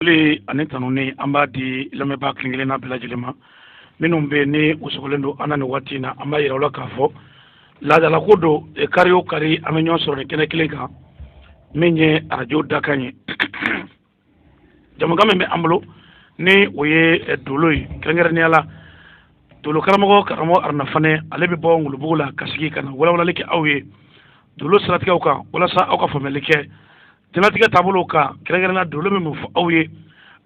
Foli ani tanuni an b'a di lamɛnbaa kelen kelenna bɛɛ lajɛlen ma minnu bɛ yen ni u sɔgɔlen don an na nin waati in na an b'a yira u la k'a fɔ laadalako don kari o kari an bɛ ɲɔgɔn sɔrɔ nin kɛnɛ kelen kan min ye arajo dakan ye jamukan min bɛ an bolo ni o ye eh, dolo ye kɛrɛnkɛrɛnnenya la dolo karamɔgɔ karamɔgɔ aruna fanɛ ale bɛ bɔ ngolobugu la ka sigi ka na walawalali kɛ aw ye dolo siratigɛw kan walasa aw ka faamuyali kɛ jɛnatigɛ taabolo kan kɛrɛnkɛrɛnna dolo bɛ mun fɔ aw ye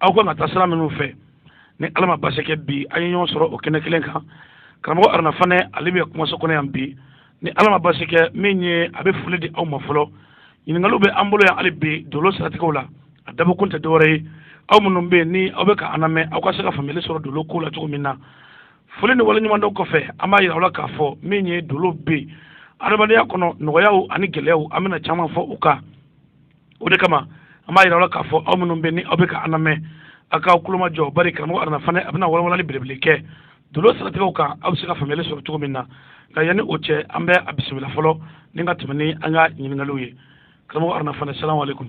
aw kan ka taa sira minnu fɛ ni ala ma baasi kɛ bi an ye ɲɔgɔn sɔrɔ o kɛnɛ kelen kan karamɔgɔ aruna fanɛ ale bɛ kumaso kɔnɔ yan bi ni ala ma baasi kɛ min ye a bɛ foli di aw ma fɔlɔ ɲininkaliw bɛ an bolo yan hali bi dolo siratigɛw la a dabɔ kun tɛ dɔwɛrɛ ye aw minnu bɛ yen ni aw bɛ ka an lamɛn aw ka se ka faamuyali sɔrɔ dolo ko la cogo min na foli ni waleɲumandɔn kɔfɛ an b'a yira aw la k'a fɔ min ye dolo bɛ yen adamadenya kɔnɔ nɔgɔyaw ani gɛlɛyaw an bɛna caman fɔ u kan o de kama an b'a yira aw la k'a fɔ aw minnu bɛ ni aw bɛ ka an lamɛn aw k'aw kulomajɔ bari karamɔgɔ aruna fanɛ a bɛna walawalali belebele kɛ dolo siratigɛw kan aw bɛ se ka faamuyali sɔrɔ cogo min na nka yanni o cɛ an bɛ a bisimila fɔlɔ ni ka tɛmɛ ni an ka ɲininkaliw ye karamɔgɔ aruna fanɛ salamu aleykum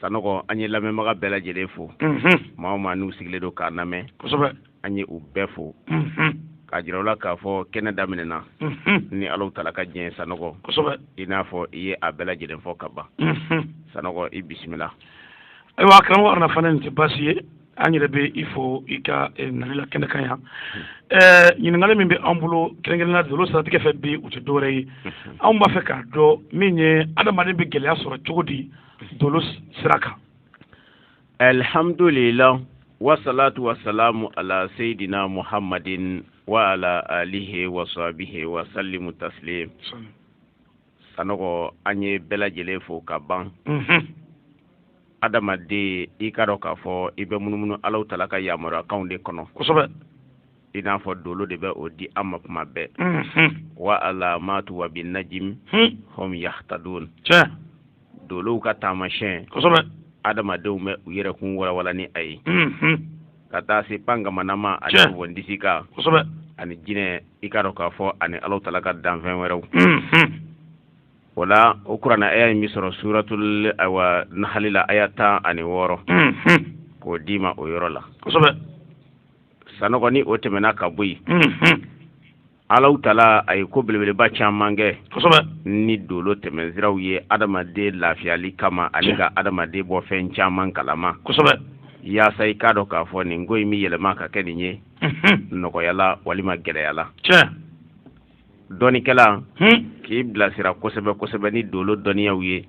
sanɔgɔ an ye lamɛnbaga bɛɛ lajɛlen fo maa o maa n'u sigilen don k'an lamɛn kosɛbɛ an ye u bɛɛ fo k'a jira u la k'a fɔ kɛnɛ daminɛna ni alaw tala ka diɲɛ sanɔgɔ kosɛbɛ i n'a fɔ i ye a bɛɛ lajɛlen fo ka ban sanɔgɔ i bisimila ayiwa karamɔgɔ aruna fanɛ nin tɛ baasi ye an yɛrɛ bɛ i fo i ka eh, nali la kɛnɛ kan yan eh, ɲininkali min bɛ an bolo kɛrɛnkɛrɛnnenya dolo siratigɛ fɛ bi u tɛ dɔwɛrɛ ye anw b'a fɛ k'a dɔn min ye adamaden bɛ gɛlɛya sɔrɔ cogo di dolo sira kan alhamdulilah wasalatu wasalamu ala seyidina muhammadin wa ala alihi wa sahbihi wa sallimu taslim sanɔgɔ an ye bɛɛ lajɛlen fo ka ban adamaden i k'a dɔn k'a fɔ i bɛ munumunu alaw tala ka yamaruyakanw de kɔnɔ kosɛbɛ i n'a fɔ dolo de bɛ o di an ma kuma bɛɛ wa alamatu wa bi najimi hum yahtadun dolow ka taamasiyɛn kosɛbɛ adamadenw bɛ u yɛrɛkun walawala ni a ye mhm. ka taa se pankamanama ani Tiɲɛ. wɔndisi kan kosɛbɛ ani jinɛ i k'a dɔn k'a fɔ ani alaw tala ka danfɛn wɛrɛw mhm. o la o kurana aya in bɛ sɔrɔ suratul awa nahali la aya tan ani wɔɔrɔ mhm. k'o d'i ma o yɔrɔ la kosɛbɛ sanɔgɔ ni o tɛmɛna ka bɔ yen mhm. Ala tala a ye ko belebeleba caman kɛ kosɛbɛ ni dolo tɛmɛnsiraw ye adamaden lafiyali kama ani ka adamaden bɔ fɛn caman kalama kosɛbɛ yaasa i k'a dɔn k'a fɔ nin ko in bɛ yɛlɛma ka kɛ nin ye nɔgɔya la walima gɛlɛya la dɔnikɛla k'i bilasira kosɛbɛ kosɛbɛ ni dolo dɔnniyaw ye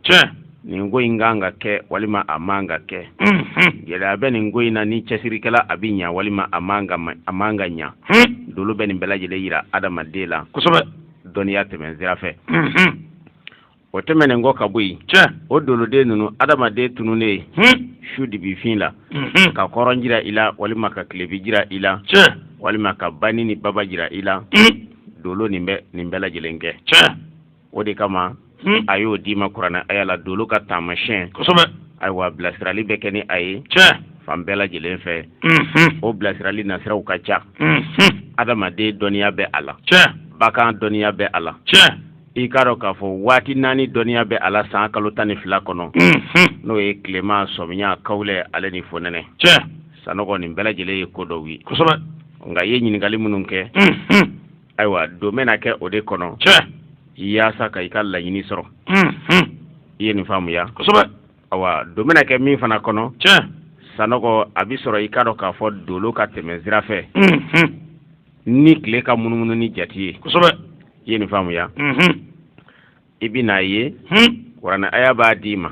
nin ko in kan ka kɛ walima a man ka kɛ gɛlɛya bɛ nin ko in na ni cɛsiri kɛla a bɛ ɲa walima a man ka a man ka ɲa dolo bɛ nin bɛɛ lajɛlen yira adamaden la kosɛbɛ dɔnniya tɛmɛn sira fɛ o tɛmɛnen kɔ ka bɔ yen o doloden ninnu adamaden tununnen su dibifin la ka kɔrɔn jira i la walima ka tilebi jira i la walima ka bani ni baba jira i la dolo nin bɛ nin bɛɛ lajɛlen kɛ o de kama hmm. a y'o d'i ma kuranɛ aya la dolo ka taamasiyɛn kosɛbɛ ayiwa bilasirali bɛ kɛ ni a ye tiɲɛ fan bɛɛ lajɛlen fɛ hmm. o bilasirali nasiraw ka ca hmm. adamaden dɔnniya bɛ a la tiɲɛ bakan dɔnniya bɛ a la tiɲɛ i k'a dɔn k'a fɔ waati naani dɔnniya bɛ a la san kalo tan ni fila kɔnɔ n'o ye tilema sɔmiya kawulɛ ale ni fonɛnɛ tiɲɛ sanɔgɔ nin bɛɛ lajɛlen ye ko dɔw ye kosɛbɛ nka i ye ɲininkali minnu kɛ ayiwa don bɛna kɛ o de kɔnɔ yaasa ka i ka laɲini sɔrɔ i ye nin faamuya kosɛbɛ ayiwa don bɛna kɛ min fana kɔnɔ sanɔgɔ a bɛ sɔrɔ i k'a dɔn k'a fɔ dolo ka tɛmɛ sira fɛ ni tile ka munumunu ni jate ye i ye nin faamuya i bɛn'a ye kuranɛ aya b'a d'i ma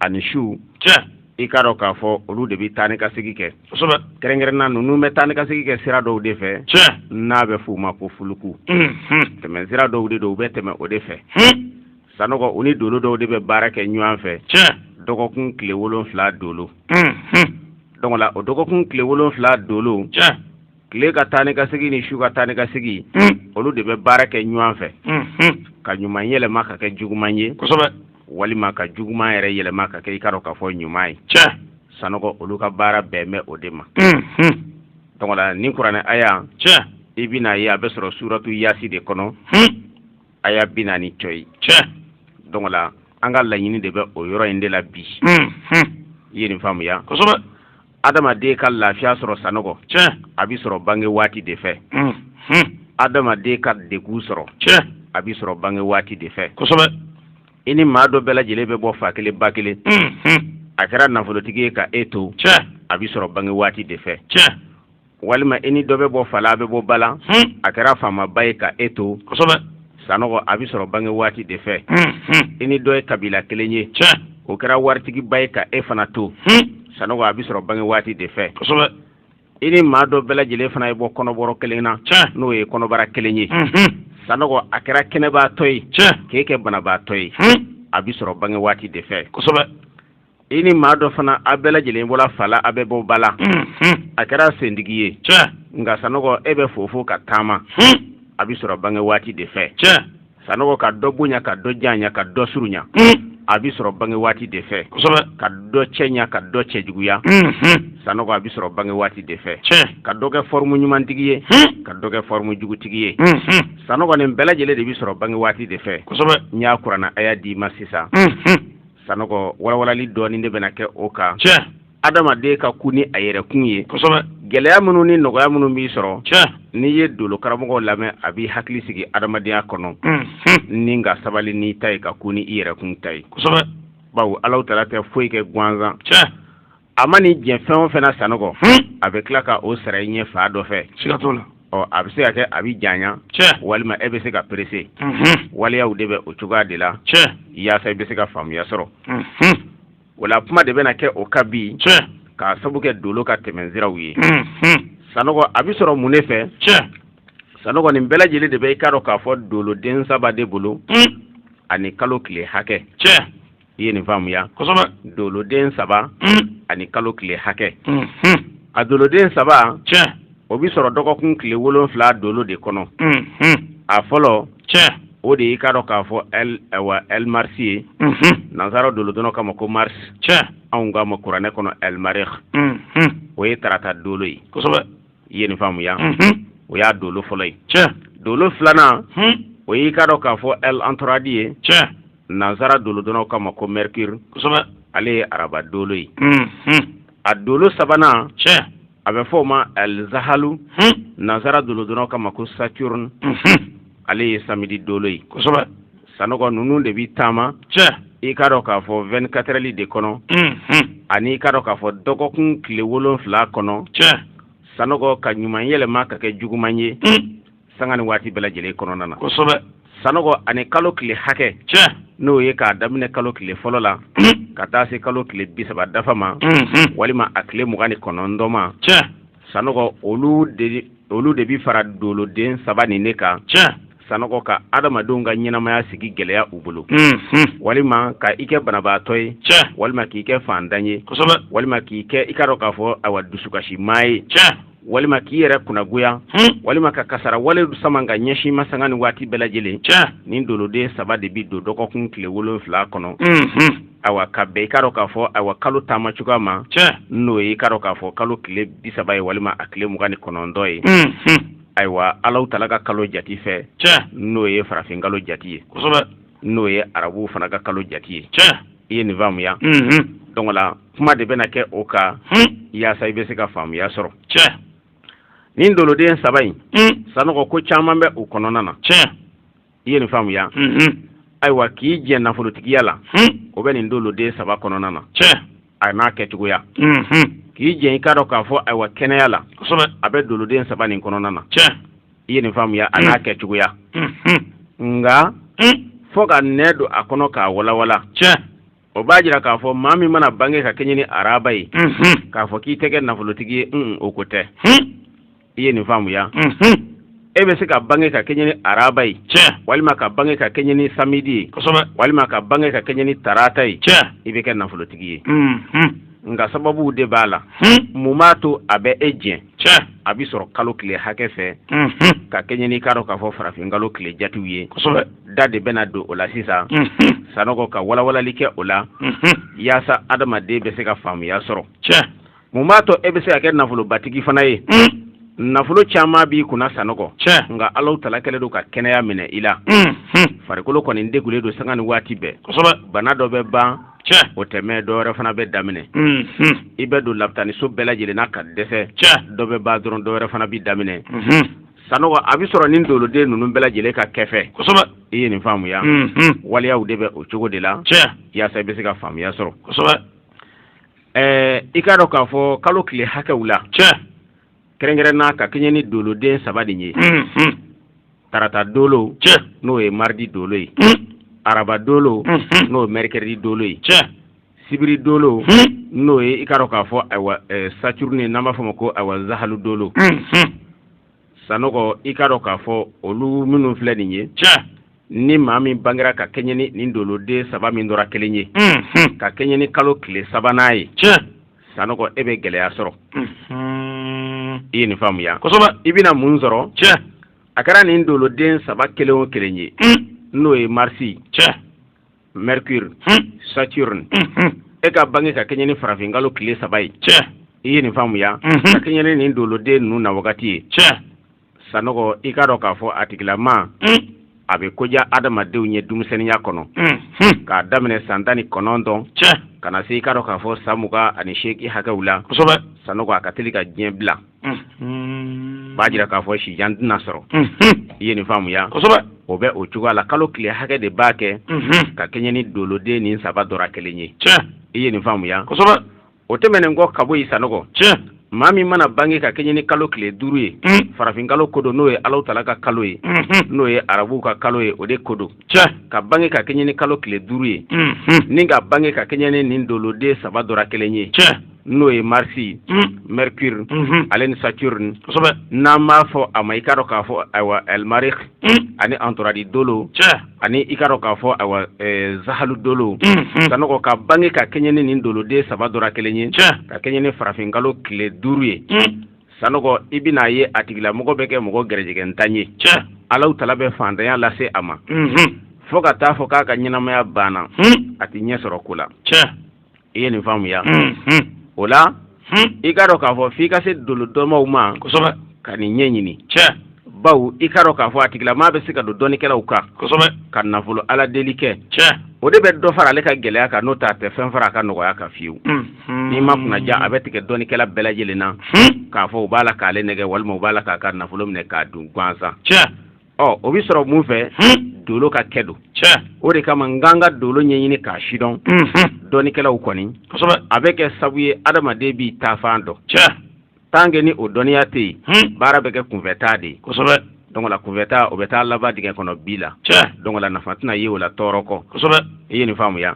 ani su i k'a dɔn k'a fɔ olu de bɛ taa ni ka segin kɛ kɛrɛnkɛrɛnna ninnu bɛ taa ni ka segin kɛ sira dɔw de fɛ n'a bɛ f'u ma ko fuluku tɛmɛ sira dɔw de don u bɛ tɛmɛ o de fɛ sanɔgɔ u ni dolo dɔw de bɛ baara kɛ ɲɔgɔn fɛ dɔgɔkun tile wolonfila dolo donc là o dɔgɔkun tile wolonfila dolo tile ka taa ni ka segin ni su ka taa ni ka segin mm. olu de bɛ baara kɛ ɲɔgɔn fɛ mm-hmm. ka ɲuman yɛlɛma ka kɛ juguman ye kosɛbɛ walima ka juguman yɛrɛ yɛlɛma ka kɛ i k'a dɔn k'a fɔ ɲuman ye tiɲɛ sanɔgɔ olu ka baara bɛn bɛ o de ma mm-hmm. donc là nin kuranɛ aya tiɲɛ i bɛna ye a bɛ sɔrɔ suratu yasin de kɔnɔ hmm. aya bi naani cɔyi tiɲɛ donc là an ka laɲini de bɛ o yɔrɔ in de la bi mm-hmm. i ye nin faamuya kosɛbɛ adamaden ka lafiya sɔrɔ sanɔgɔ a bɛ sɔrɔ bange waati de fɛ adamaden ka degun sɔrɔ a bɛ sɔrɔ bange waati de fɛ kosɛbɛ i ni maa dɔ bɛɛ lajɛlen bɛ bɔ fa kelen ba kelen a kɛra nafolotigi ye ka e to a bɛ sɔrɔ bange waati de fɛ walima i ni dɔ bɛ bɔ fa la a bɛ bɔ ba la a kɛra faamaba ye ka e to sanɔgɔ a bɛ sɔrɔ bange waati de fɛ i ni dɔ ye kabila kelen ye o kɛra waritigiba ye ka e fana to sanɔgɔ a bɛ sɔrɔ bange waati de fɛ i ni maa dɔ bɛɛ lajɛlen fana ye bɔ kɔnɔbɔrɔ kelen na n'o ye kɔnɔbara kelen ye sanɔgɔ a kɛra kɛnɛbaatɔ ye k'e kɛ banabaatɔ ye a bɛ sɔrɔ bange waati de fɛ i ni maa dɔ fana a bɛɛ lajɛlen bɔra fa la a bɛ bɔ ba la a kɛra sentigi ye tiɲɛ nka sanɔgɔ e bɛ fofo ka taama a bɛ sɔrɔ bange waati de fɛ tiɲɛ sanɔgɔ ka dɔ bonya ka dɔ janya ka dɔ surunya a bɛ sɔrɔ bange waati de fɛ ka dɔ cɛɲa ka dɔ cɛjuguya sanɔgɔ a bɛ sɔrɔ bange waati de fɛ ka dɔ kɛ fɔrɔmu ɲumantigi ye ka dɔ kɛ fɔrɔmu jugutigi ye sanɔgɔ nin bɛɛ lajɛlen de bɛ sɔrɔ bange waati de fɛ n y'a kurana aya d'i ma sisan sanɔgɔ walawalali dɔɔni de bɛna kɛ o kan tiɲɛ adamaden ka kun ni a yɛrɛkun ye kosɛbɛ gɛlɛya minnu ni nɔgɔya minnu b'i sɔrɔ tiɲɛ n'i ye dolo karamɔgɔw lamɛn a b'i hakili sigi adamadenya kɔnɔ ni ka sabali n'i ta ye ka kun ni i yɛrɛkun ta ye kosɛbɛ bawo alahu taala tɛ foyi kɛ gansan tiɲɛ a man'i jɛ fɛn o fɛn na sanɔgɔ a bɛ tila ka o sara i ɲɛ fan dɔ fɛ siga t'o la ɔ a bɛ se ka kɛ a bɛ janya tiɲɛ walima e bɛ se ka perese waleyaw de bɛ o cogoya de la tiɲɛ yaasa i bɛ se ka faamuya sɔrɔ o la kuma de bɛna kɛ o kan bi tiɲɛ k'a sabu kɛ dolo ka tɛmɛnsiraw ye sanɔgɔ a bɛ sɔrɔ mun de fɛ tiɲɛ sanɔgɔ nin bɛɛ lajɛlen de bɛ i k'a dɔn k'a fɔ doloden saba de bolo ani kalo tile hakɛ tiɲɛ i ye nin faamuya kosɛbɛ doloden saba mm. ani kalo tile hakɛ mm -hmm. a doloden saba tiɲɛ o bi sɔrɔ dɔgɔkun tile wolonfila dolo de kɔnɔ mm -hmm. a fɔlɔ tiɲɛ o de y'i k'a dɔn k'a fɔ ɛl awa ɛl marisi ye mm -hmm. nansara dolodɔnnaw k'a ma ko mars tiɲɛ anw k'a ma kuranɛ kɔnɔ ɛl marikh mm -hmm. o ye tarata dolo ye kosɛbɛ i ye nin faamuya mm -hmm. o y'a dolo fɔlɔ ye tiɲɛ dolo filanan mm -hmm. o y'i k'a dɔn k'a fɔ ɛl antoradi ye tiɲɛ nansara dolodɔnnaw k'a ma ko mercure kosɛbɛ ale ye araba dolo ye mhm. a dolo sabanan tiɲɛ a bɛ fɔ o ma ɛl zahalu mhm. nansara dolodɔnnaw k'a ma ko saturne mhm. ale ye samedi dolo ye kosɛbɛ sanɔgɔ ninnu de bɛ taama tiɲɛ i k'a dɔn k'a fɔ 24 heures de kɔnɔ ani i k'a dɔn k'a fɔ dɔgɔkun tile wolonfila kɔnɔ tiɲɛ sanɔgɔ ka ɲuman yɛlɛma ka kɛ juguman ye sanga ni waati bɛɛ lajɛlen kɔnɔna na kosɛbɛ sanɔgɔ ani kalo tile hakɛ tiɲɛ n'o ye k'a daminɛ kalo tile fɔlɔ la hmm. ka taa se kalo tile bi saba dafa ma hmm, hmm. walima a tile mugan ni kɔnɔntɔn ma tiɲɛ sanɔgɔ olu de olu de bi fara doloden saba nin ne kan tiɲɛ sanɔgɔ ka adamadenw ka ɲɛnamaya sigi gɛlɛya u bolo walima ka i kɛ banabaatɔ ye tiɲɛ walima k'i kɛ faantan ye walima k'i kɛ i k'a dɔn k'a fɔ awa dusukasi maa ye walima k'i yɛrɛ kunnagoya hmm. walima ka kasara wale sama ka ɲɛsin i ma sanga ni waati bɛɛ lajɛlen tiɲɛ nin doloden saba de bɛ don dɔgɔkun tile wolonfila kɔnɔ hmm, hmm. awa ka bɛn i k'a dɔn k'a fɔ awa kalo taama cogoya ma tiɲɛ n'o ye i k'a dɔn k'a fɔ kalo tile bi saba ye walima a tile mugan ni kɔnɔntɔn ye ayiwa alahu taala ka kalo jati fɛ tiɲɛ n'o ye farafin kalo jati ye n'o ye arabuw fana ka kalo jati ye i ye nin faamuya donc la kuma de bɛna kɛ o kan yaasa i bɛ se ka faamuya sɔrɔ nin doloden saba in sanɔgɔ ko caman bɛ u kɔnɔna na i ye nin faamuya ayiwa k'i jɛ nafolotigiya la o bɛ nin doloden saba kɔnɔna na a n'a kɛcogoya k'i jɛ i k'a dɔn k'a fɔ ayiwa kɛnɛya la a bɛ doloden saba nin kɔnɔna na i ye nin faamuya a n'a kɛcogoya nka fo ka n don a kɔnɔ k'a walanwalan o b'a jira k'a fɔ maa min mana bange ka kɛɲɛ ni araba ye k'a fɔ k'i tɛ kɛ nafolotigi ye o ko tɛ i ye nin faamuya e bɛ se ka bange ka kɛɲɛ ni araba ye walima ka bange ka kɛɲɛ ni samedi ye walima ka bange ka kɛɲɛ ni tarata ye i bɛ kɛ nafolotigi ye nka sababu de b'a la mun b'a to a bɛ e jɛ a bɛ sɔrɔ kalo tile hakɛ fɛ ka kɛɲɛ n'i k'a dɔn k'a fɔ farafin kalo tile jatiw ye da de bɛna don o la sisan sanɔgɔ ka walawalali kɛ o la yaasa adamaden bɛ se ka faamuya sɔrɔ mun b'a to e bɛ se ka kɛ nafolobatigi fana ye nafolo caman b'i kunna sanɔgɔ nka alahu tala kɛlen don ka kɛnɛya minɛ i la farikolo kɔni degulen don sanga ni waati bɛɛ bana dɔ bɛ ban o tɛ mɛn dɔ wɛrɛ fana bɛ daminɛ i bɛ don lapitaniso bɛɛ lajɛlen na ka dɛsɛ dɔ bɛ ban dɔrɔn dɔ wɛrɛ fana bɛ daminɛ sanɔgɔ a bɛ sɔrɔ nin doloden ninnu bɛɛ lajɛlen ka kɛfɛ i ye nin faamuya waliyaw de bɛ o cogo de la yaasa i bɛ se ka faamuya sɔrɔ ɛɛ i k'a dɔn k'a fɔ kalo tile hakɛw la tiɲɛ kɛrɛnkɛrɛnna ka kɛɲɛ ni doloden saba de ye tarata dolo tiɲɛ n'o ye mardi dolo ye araba dolo n'o ye mercredi dolo ye tiɲɛ sibiri dolo n'o ye i k'a dɔn k'a fɔ ayiwa saturne n'an b'a fɔ o ma ko ayiwa zahalu dolo sanɔgɔ i k'a dɔn k'a fɔ olu minnu filɛ nin ye tiɲɛ ni maa min bangera ka kɛɲɛ ni nin doloden saba min dɔ ra kelen ye mhm. ka kɛɲɛ ni kalo tile sabanan ye tiɲɛ sanɔgɔ e bɛ gɛlɛya sɔrɔ mhm. i ye nin faamuya kosɛbɛ i bɛna mun sɔrɔ tiɲɛ a kɛra nin doloden saba kelen o kelen ye mm. n'o ye mars tiɲɛ mercure saturne e ka bange ka kɛɲɛ ni farafin kalo tile saba ye i ye nin faamuya ka kɛɲɛ ni nin doloden ninnu na wagati ye sanɔgɔ i k'a dɔn k'a fɔ a tigilama a bɛ ko ɲa adamadenw ye denmisɛnninya kɔnɔ k'a daminɛ san tan ni kɔnɔntɔn ka na se i k'a dɔn k'a fɔ san mugan ani seegin hakɛw la sanɔgɔ a ka teli ka diɲɛ bila Mm-hmm. b'a jira k'a fɔ sijan tɛna sɔrɔ mm-hmm. i ye nin faamuya kosɛbɛ o bɛ o cogoya la kalo tile hakɛ de b'a kɛ mm-hmm. ka kɛɲɛ ni doloden nin saba dɔra kelen ye i ye nin faamuya kosɛbɛ o tɛmɛnen kɔ ka bɔ yen sanɔgɔ maa min mana bange ka kɛɲɛ ni kalo tile duuru ye mm. farafin kalo ko don n'o ye alahu tala ka kalo ye n'o ye arabuw ka kalo ye o de ko don ka bange ka kɛɲɛ ni kalo tile duuru ye ni ka bange ka kɛɲɛ ni nin doloden saba dɔra kelen ye n'o ye marisi mm. mercure mm-hmm. ale ni saturne kosɛbɛ n'an b'a fɔ a ma i k'a dɔn k'a fɔ ayiwa elmarik mm. ani antoradi dolo ani i k'a dɔn k'a fɔ ayiwa eh, zahalu dolo mm-hmm. sanɔgɔ ka bange ka kɛɲɛ ni nin doloden saba dɔra kelen ye ka kɛɲɛ ni farafinkalo tile duuru ye mm. sanɔgɔ i bɛna ye a tigilamɔgɔ bɛ kɛ mɔgɔ gɛrɛjɛgɛntan ye alahu tala bɛ faantanya lase a ma mm-hmm. fo ka taa fɔ k'a ka ɲɛnamaya banna a tɛ ɲɛ sɔrɔ ko la i ye nin faamuya o la i k'a dɔn k'a fɔ f'i ka se dolodɔnmaw ma kosɛbɛ ka nin ɲɛ ɲini cɛ bawo i k'a dɔn k'a fɔ a tigilamaa bɛ se ka don dɔnnikɛlaw kan kosɛbɛ ka nafolo ala deli kɛ cɛ o de bɛ dɔ fara ale ka gɛlɛya kan n'o t'a tɛ fɛn fara a ka nɔgɔya kan fiyewu n'i ma kunnaja a bɛ tigɛ dɔnnikɛla bɛɛ lajɛlen na k'a fɔ u b'a la k'ale nɛgɛn walima u b'a la k'a ka nafolo minɛ k'a dun gansan cɛ ɔ o bɛ sɔrɔ mun fɛ dolo ka kɛ don o de kama n k'an ka dolo ɲɛɲini k'a sidɔn dɔnnikɛlaw kɔni a bɛ kɛ sabu ye adamaden b'i taafan dɔn tant que ni o dɔnniya tɛ yen baara bɛ kɛ kunfɛtaa de ye donc là kunfɛtaa o bɛ taa laban dingɛ kɔnɔ bi la donc là nafa tɛna ye o la tɔɔrɔ kɔ i ye nin faamuya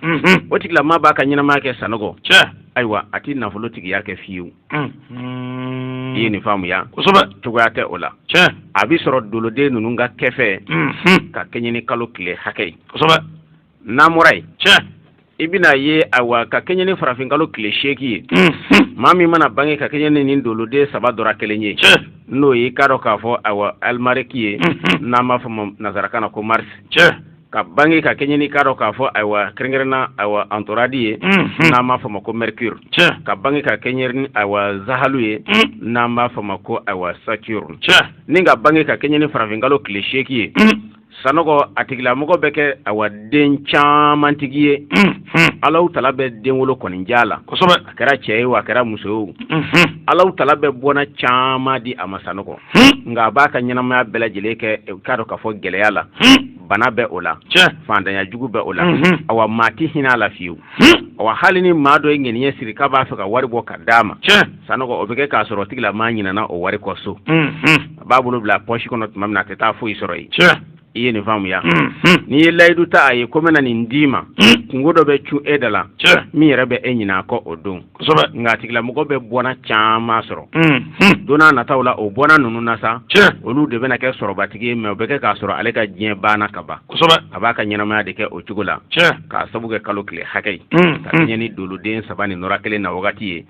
o tigila maa b'a ka ɲɛnamaya kɛ sanɔgɔ ayiwa a tɛ nafolo tigiya kɛ fiyewu Mm-hmm. i ye nin faamuya kosɛbɛ cogoya tɛ o la tiɲɛ a bɛ sɔrɔ doloden ninnu ka kɛ fɛ mm-hmm. ka kɛɲɛ ni kalo tile hakɛ ye kosɛbɛ n'an bɔra yen tiɲɛ i bɛna ye awa ka kɛɲɛ ni farafinkalo tile seegin ye mm-hmm. maa min mana bange ka kɛɲɛ ni nin doloden saba dɔra kelen ye n'o ye i k'a dɔn k'a fɔ awa alimariki ye n'an b'a fɔ ma nanzarakan na ko marisi ka bange ka kɛɲɛ ni k'a dɔn k'a fɔ ayiwa kɛrɛnkɛrɛnna ayiwa antoradi ye mhm. n'an b'a fɔ ma ko mercure ka bange ka kɛɲɛ ni ayiwa zahalu ye mhm. n'an b'a fɔ ma ko ayiwa saturne ni ka bange ka kɛɲɛ ni farafinkalo tile seeki ye mhm. sanɔgɔ a tigilamɔgɔ bɛ kɛ ayiwa den camantigi ye alahu tala bɛ denwolo kɔni ja la a kɛra cɛ ye o a kɛra muso ye o alahu tala bɛ bɔnna caman di a ma sanɔgɔ nka a b'a ka ɲɛnamaya bɛɛ lajɛlen kɛ k'a dɔn k'a fɔ gɛlɛya la bana bɛ o la fantanya jugu bɛ o la awa maa tɛ hinɛ a la fiyewu awa hali ni maa dɔ ye ŋaniya siri k'a b'a fɛ ka wari bɔ ka d'a ma sanɔgɔ o bɛ kɛ k'a sɔrɔ tigila maa ɲinana o wari kɔ so a b'a bolo bila pɔsi kɔnɔ tuma min na a tɛ taa foyi sɔrɔ yen i ye nin faamuya n'i ye layidu ta a ye ko n bɛna nin d'i ma kungo dɔ bɛ cun e da la min yɛrɛ bɛ e ɲin'a kɔ o don nka a tigilamɔgɔ bɛ bɔnna caman sɔrɔ don n'a nataw la o bɔnna ninnu na sa olu de bɛna kɛ sɔrɔbatigi ye mɛ o bɛ kɛ k'a sɔrɔ ale ka diɲɛ banna ka ban a b'a ka ɲɛnamaya de kɛ o cogo la k'a sabu kɛ kalo tile hakɛ ye ka kɛɲɛ ni doloden saba nin dɔra kelen na wagati ye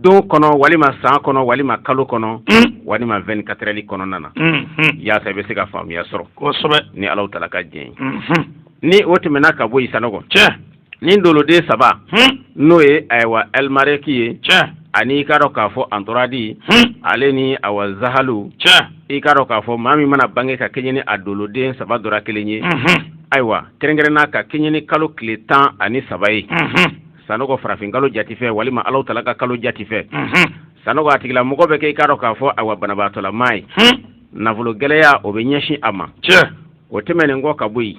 don kɔnɔ walima san kɔnɔ walima kalo kɔnɔ mm. walima vingt-quatre heures kɔnɔna na mm-hmm. yaasa i bɛ se ka faamuya sɔrɔ ni alahu taala ka diɲɛ ye mm-hmm. ni o tɛmɛna ka bɔ yen sanɔgɔ ni doloden saba hmm. n'o ye ayiwa alimareki ye ani i k'a dɔn k'a fɔ antoradi hmm. ale ni awa zahalu i k'a dɔn k'a fɔ maa min mana bange ka kɛɲɛ ni a doloden saba dɔra kelen ye mm-hmm. ayiwa kɛrɛnkɛrɛnna ka kɛɲɛ ni kalo tile tan ani saba ye sanɔgɔ farafin kalo jati fɛ walima alahu taala ka kalo jati fɛ sanɔgɔ a tigilamɔgɔ bɛ kɛ i k'a dɔn k'a fɔ awa banabaatɔlamaa ye nafolo gɛlɛya o bɛ ɲɛsin a ma o tɛmɛnen kɔ ka bɔ yen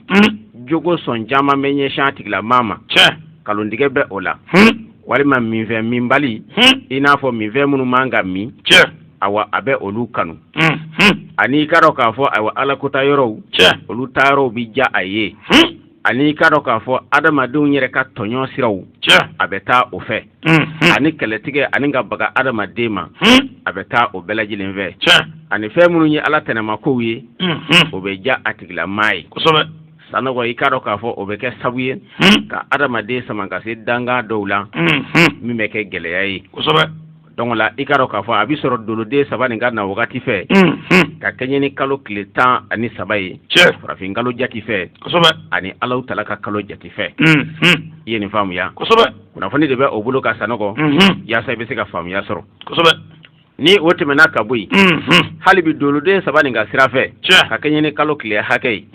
jogo sɔn caman bɛ ɲɛsin a tigilamaa ma nkalontigɛ bɛ o la walima minfɛn minbali i n'a fɔ minfɛn minnu man ka min awa a bɛ olu kanu ani i k'a dɔn k'a fɔ ayiwa ala kota yɔrɔw olu taa yɔrɔw bɛ ja a ye ani i k'a dɔn k'a fɔ adamadenw yɛrɛ ka tɔɲɔ siraw a bɛ taa o fɛ ani kɛlɛtigɛ ani ka baga adamaden ma a bɛ taa o bɛɛ lajɛlen fɛ ani fɛn minnu ye ala tɛnɛmakow ye o bɛ ja a tigilamaa ye sanɔgɔ i k'a dɔn k'a fɔ o bɛ kɛ sabu ye ka adamaden sama ka se danga dɔw la min bɛ kɛ gɛlɛya ye donc la i k'a dɔn k'a fɔ a bɛ sɔrɔ doloden saba nin ka na wagati fɛ ka kɛɲɛ ni kalo tile tan ani saba ye farafin kalo jati fɛ ani alahu taala ka kalo jati fɛ i ye nin faamuya kunnafoni de bɛ o bolo kan sanɔgɔ yaasa i bɛ se ka faamuya sɔrɔ ni o tɛmɛna ka bɔ yen hali bi doloden saba nin ka sira fɛ ka kɛɲɛ ni kalo tile hakɛ ye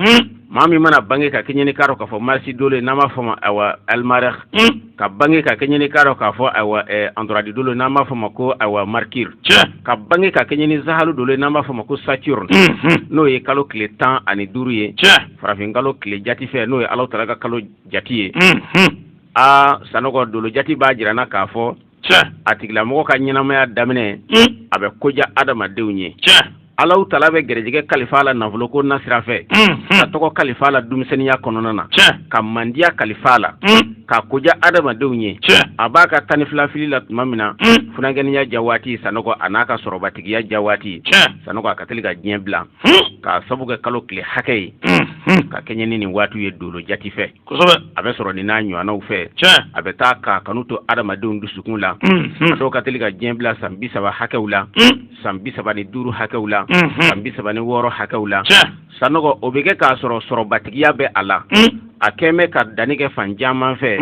maa min mana bange ka kɛɲɛ n'i k'a dɔn k'a fɔ marisi dolo n'an b'a fɔ ma awa almarɛh ka bange ka kɛɲɛ n'i k'a dɔn k'a fɔ awa antoradi dolo n'an b'a fɔ ma ko awa mercure ka bange ka kɛɲɛ ni zahalu dolo n'an b'a fɔ ma ko saturne n'o ye kalo tile tan ani duuru ye farafin kalo tile jati fɛ n'o ye alahu taala ka kalo jate ye aa sanɔgɔ dolo jate b'a jira na k'a fɔ a tigilamɔgɔ ka ɲɛnamaya daminɛ hmm. a bɛ ko ja adamadenw ye alahu taala bɛ garijɛgɛ kalifa la nafolo ko na sira fɛ hmm, hmm. ka tɔgɔ kalifa la denmisɛnninya kɔnɔna na ka mandiya kalifa la ka ko ja adamadenw ye a b'a ka tan ni fila fili la tuma min na funankɛniya ja waati sanɔgɔ a n'a ka sɔrɔbatigiya ja waati sanɔgɔ a ka teli ka diɲɛ bila k'a sabu kɛ kalo tile hakɛ ye ka kɛɲɛ ni nin waati ye dolo jate fɛ kosɛbɛ a bɛ sɔrɔ nin n'a ɲɔgɔnnaw fɛ tiɲɛ a bɛ taa k'a kanu to adamadenw dusukun la a dɔw ka teli ka diɲɛ bila san bi saba hakɛw la san bi saba ni duuru hakɛw la san bi saba ni wɔɔrɔ hakɛw la sanɔgɔ o bɛ kɛ k'a sɔrɔ sɔrɔbatigiya bɛ a la a kɛn bɛ ka danni kɛ fan caman fɛ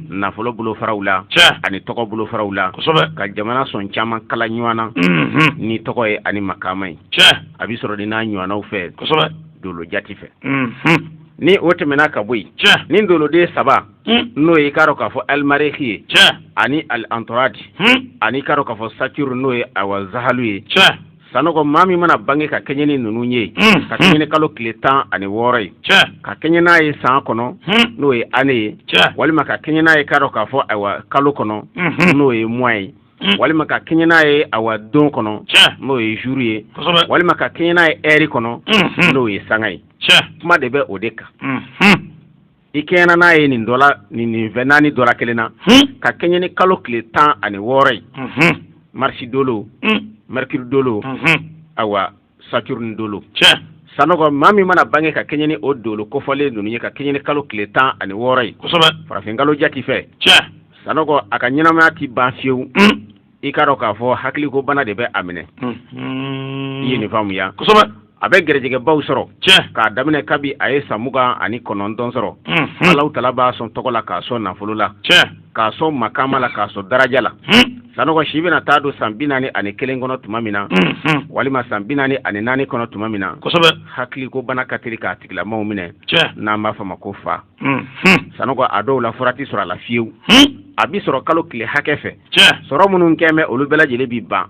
nafolo bolofaraw la ani tɔgɔ bolofaraw la ka jamana sɔn caman kala ɲɔgɔn na ni tɔgɔ ye ani makaama ye a bɛ sɔrɔ nin n'a ɲɔgɔnnaw fɛ dolo jati fɛ ni o tɛmɛna ka bɔ yen ni doloden saba hmm. n'o ye k'a dɔn k'a fɔ alimareki ye ani antoradi hmm. ani i k'a dɔn k'a fɔ saturne n'o ye awa zahalu ye sanɔgɔ maa min mana bange ka kɛɲɛ ni ninnu ye hmm. ka kɛɲɛ ni kalo tile tan ani wɔɔrɔ ye ka kɛɲɛ n'a ye san kɔnɔ n'o ye année ye walima ka kɛɲɛ n'a ye k'a dɔn k'a fɔ ayiwa kalo kɔnɔ n'o ye mois ye Hmm. walima ka kɛɲɛ n'a ye awa don kɔnɔ n'o ye jour ye walima ka kɛɲɛ n'a ye heure kɔnɔ hmm, hmm. n'o ye sanga ye kuma de bɛ o de kan i kɛɲɛna n'a ye nin dɔla nin nin fɛn naani dɔla kelen na ka kɛɲɛ ni kalo tile tan ani wɔɔrɔ ye marisi dolo mercure dolo awa saturne dolo tiɲɛ sanɔgɔ maa min mana bange ka kɛɲɛ ni o dolo kofɔlen ninnu ye ka kɛɲɛ ni kalo tile tan ani wɔɔrɔ ye kosɛbɛ farafin kalo jati fɛ tiɲɛ sanɔgɔ a ka ɲɛnamaya ti ban fiyewu hmm. i k'a dɔn k'a fɔ hakiliko bana de bɛ a minɛ hmm. i ye nin faamuya kosɛbɛ a bɛ gɛrɛjɛgɛbaw sɔrɔ tiɲɛ k'a daminɛ kabi a ye san mugan ani kɔnɔntɔn sɔrɔ hmm. alahu taala b'a sɔn tɔgɔ la k'a sɔn nafolo la tiɲɛ k'a sɔn makaama la k'a sɔn daraja la sanɔgɔ si bɛna taa don san bi naani ani kelen kɔnɔ tuma min na walima san bi naani ani naani kɔnɔ tuma min na hakiliko bana ka teli k'a tigilamaaw minɛ n'an b'a fɔ ma ko fa sanɔgɔ a dɔw la fura ti sɔrɔ a la fiyewu a bi sɔrɔ kalo tile hakɛ fɛ sɔrɔ minnu kɛn bɛ olu bɛɛ lajɛlen bi ban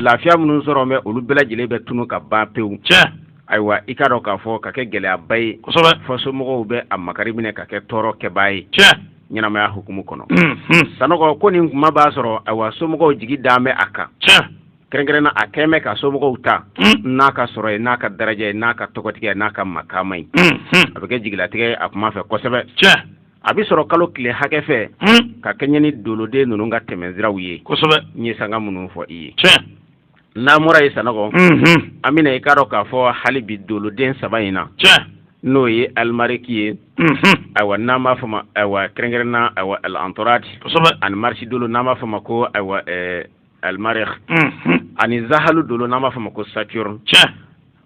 lafiya minnu sɔrɔ bɛ olu bɛɛ lajɛlen bɛ tunu ka ban pewu ayiwa i k'a dɔn k'a fɔ ka kɛ gɛlɛyaba ye fɔ somɔgɔw bɛ a makari minɛ ka kɛ tɔɔrɔ kɛbaa ye ɲɛnamaya hukumu kɔnɔ sanɔgɔ ko nin kuma b'a sɔrɔ ayiwa somɔgɔw jigi dalen bɛ a kan kɛrɛnkɛrɛnna a kɛlen bɛ ka somɔgɔw ta n'a ka sɔrɔ ye n'a ka daraja ye n'a ka tɔgɔtigiya n'a ka makaama ye a bɛ kɛ jigilatigɛ a kuma fɛ kosɛbɛ a bɛ sɔrɔ kalo tile hakɛ fɛ ka kɛɲɛ ni doloden ninnu ka tɛmɛnsiraw ye kosɛbɛ n ye sanga minnu fɔ i ye n'an bɔra yen sanɔgɔ an bɛna i k'a dɔn k'a fɔ hali bi doloden saba in na n'o ye alimariki ye ayiwa n'an b'a fɔ ma ayiwa kɛrɛnkɛrɛnna ayiwa antoradi ani marisi dolo n'an b'a fɔ ma ko ayiwa alimariki ani zahalu dolo n'an b'a fɔ ma ko saturne